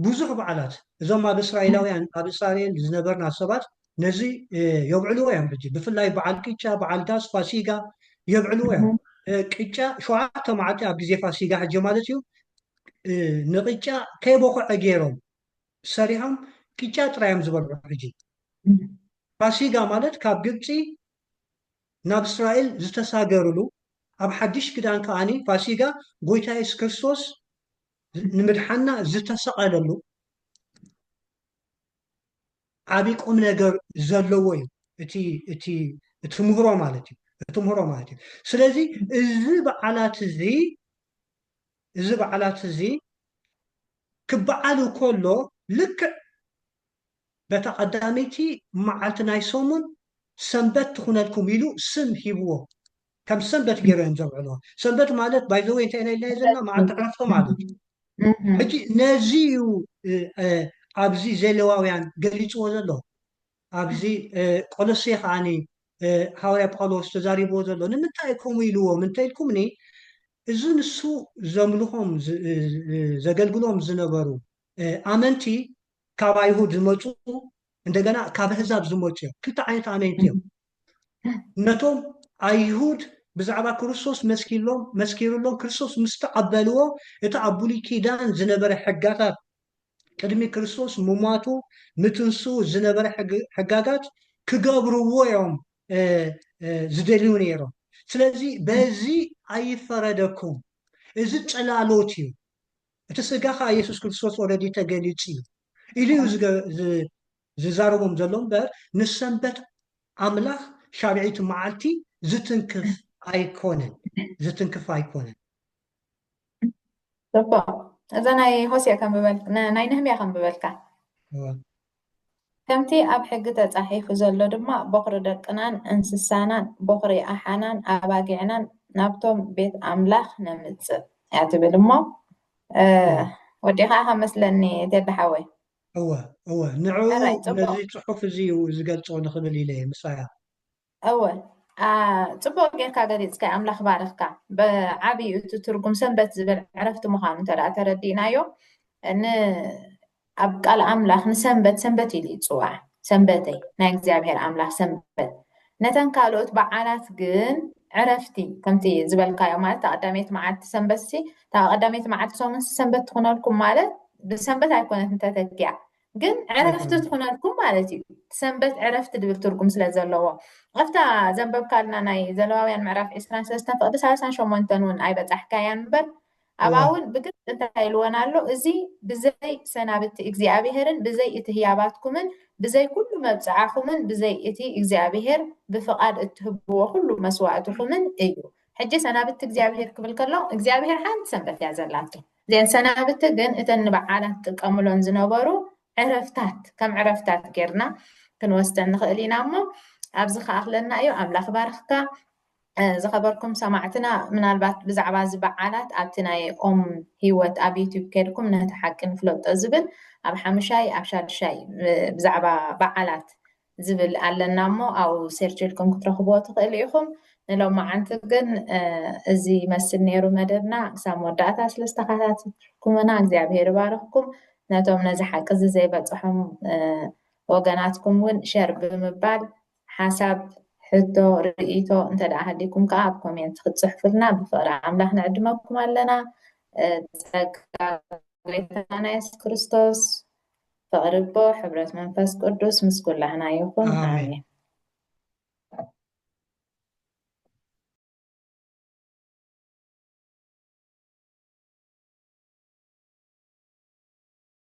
ብዙሕ በዓላት እዞም ኣብ እስራኤላውያን ኣብ እስራኤል ዝነበርና ሰባት ነዚ የብዕልዎ እዮም ሕጂ ብፍላይ በዓል ቅጫ በዓል ዳስ ፋሲጋ የብዕልዎ እዮም ቅጫ ሸውዓተ መዓልቲ ኣብ ግዜ ፋሲጋ ሕጂ ማለት እዩ ንቅጫ ከይበኩዐ ገይሮም ሰሪሖም ቅጫ ጥራይ እዮም ዝበልዑ ሕጂ ፋሲጋ ማለት ካብ ግብፂ ናብ እስራኤል ዝተሳገርሉ ኣብ ሓድሽ ክዳን ከዓኒ ፋሲጋ ጎይታ የሱስ ክርስቶስ ንምድሓና ዝተሰቐለሉ ዓብይ ቁም ነገር ዘለዎ እዩ እቲ ምህሮ ማለት እዩ እቲ ምህሮ ማለት እዩ ስለዚ እዚ በዓላት እዚ እዚ በዓላት እዚ ክበዓል ከሎ ልክዕ በታ ቀዳመይቲ መዓልቲ ናይ ሰሙን ሰንበት ትኹነልኩም ኢሉ ስም ሂብዎ ከም ሰንበት ገይሮም እዮም ዘብዕልዎ። ሰንበት ማለት ባይ ዘ ወይ እንታይ ኢና ኢልናዮ ዘለና መዓልቲ ዕረፍቶ ማለት እዩ። ሕጂ ነዚ እዩ ኣብዚ ዘሌዋውያን ገሊጽዎ ዘሎ ኣብዚ ቆሎሴ ከዓኒ ሃዋርያ ጳውሎስ ተዛሪብዎ ዘሎ ንምንታይ ከምኡ ኢልዎም እንተኢልኩምኒ እዚ ንሱ ዘምልኾም ዘገልግሎም ዝነበሩ ኣመንቲ ካብ ኣይሁድ ዝመፁ እንደገና ካብ ኣህዛብ ዝመፁ እዮም ክልተ ዓይነት ኣመንቲ እዮም ነቶም ኣይሁድ ብዛዕባ ክርስቶስ መስኪሎም መስኪርሎም ክርስቶስ ምስ ተቐበልዎ እቲ ኣብ ብሉይ ኪዳን ዝነበረ ሕጋታት ቅድሚ ክርስቶስ ምሟቱ ምትንስኡ ዝነበረ ሕጋጋት ክገብርዎ እዮም ዝደልዩ ነይሮም ስለዚ በዚ ኣይፈረደኩም እዚ ጽላሎት እዩ እቲ ስጋ ከዓ ኢየሱስ ክርስቶስ ኦረዲ ተገሊጹ እዩ ኢሉ እዩ ዝዛረቦም ዘሎ እምበር ንሰንበት ኣምላኽ ሻብዒቲ መዓልቲ ዝትንክፍ ኣይኮነን ዝትንክፍ ኣይኮነን ዶኮ እዛ ናይ ሆሴዕ ከምበል ናይ ነህምያ ከምበልካ ከምቲ ኣብ ሕጊ ተጻሒፉ ዘሎ ድማ ቦኽሪ ደቅናን እንስሳናን ቦኽሪ ኣሓናን ኣባጊዕናን ናብቶም ቤት ኣምላኽ ነምጽእ እያ ትብል እሞ ወዲኻ ከመስለኒ ቴዲ ሓወይ እወ እወ ንዕኡ ሕራይ ጽቡቕ ነዚ ጽሑፍ እዚ እዩ ዝገልጾ ንኽብል ኢለ እየ ምሳያ እወ ኣ፣ ጽቡቕ ጌርካ ገሊጽካዮ ኣምላኽ ባርኽካ ብዓብዩ እቲ ትርጉም ሰንበት ዝብል ዕረፍቲ ምዃኑ እንተ ደኣ ተረዲእናዮ ን ኣብ ቃል ኣምላኽ ንሰንበት ሰንበት ኢሉ ይጽዋዕ ሰንበተይ ናይ እግዚኣብሔር ኣምላኽ ሰንበት ነተን ካልኦት በዓላት ግን ዕረፍቲ ከምቲ ዝበልካዮ ማለት እታ ቀዳመይቲ መዓልቲ ሰንበትሲ እታ ቀዳመይቲ መዓልቲ ሰሙንሲ ሰንበት ትኹነልኩም ማለት ብሰንበት ኣይኮነት እንተተኪያ ግን ዕረፍቲ ትኹነልኩም ማለት እዩ ሰንበት ዕረፍቲ ድብል ትርጉም ስለ ዘለዎ ኣብታ ዘንበብካልና ናይ ዘለዋውያን ምዕራፍ ዕስራን ሰለስተን ፍቅዲ ሳልሳን ሸሞንተን እውን ኣይበፃሕካያን እምበር ኣብኣውን ብግልጺ እንታይ ኢልወን ኣሎ፣ እዚ ብዘይ ሰናብቲ እግዚኣብሄርን ብዘይ እቲ ህያባትኩምን ብዘይ ኩሉ መብጽዓኹምን ብዘይ እቲ እግዚኣብሄር ብፍቓድ እትህብዎ ኩሉ መስዋእትኹምን እዩ። ሕጂ ሰናብቲ እግዚኣብሄር ክብል ከሎ እግዚኣብሄር ሓንቲ ሰንበት እያ ዘላቶ። እዘን ሰናብቲ ግን እተን ንበዓላት ዝጥቀምሎን ዝነበሩ ዕረፍታት ከም ዕረፍታት ጌርና ክንወስደን ንኽእል ኢና እሞ ኣብዚ ክኣኽለና እዩ። ኣምላኽ ይባርኽካ። ዝኸበርኩም ሰማዕትና ምናልባት ብዛዕባ እዚ በዓላት ኣብቲ ናይ ኦም ህይወት ኣብ ዩትዩብ ከድኩም ነቲ ሓቂ ንፍለጦ ዝብል ኣብ ሓሙሻይ ኣብ ሻድሻይ ብዛዕባ በዓላት ዝብል ኣለና እሞ ኣብኡ ሴርች ኢልኩም ክትረኽብዎ ትኽእሉ ኢኹም ንሎማዓንቲ ግን እዚ ይመስል ነይሩ መደብና ክሳብ መወዳእታ ስለ ዝተኸታተልኩምና እግዚኣብሄር ይባርኽኩም ነቶም ነዚ ሓቂ እዚ ዘይበፅሖም ወገናትኩም እውን ሸር ብምባል ሓሳብ፣ ሕቶ፣ ርእይቶ እንተድኣ ሃልይኩም ከኣ ኣብ ኮሜንት ክትጽሕፉልና ብፍቕሪ ኣምላኽ ንዕድመኩም ኣለና። ጸጋ ጎይታና የሱስ ክርስቶስ፣ ፍቕሪ ኣቦ፣ ሕብረት መንፈስ ቅዱስ ምስ ኩላህና ይኹን። ኣሜን።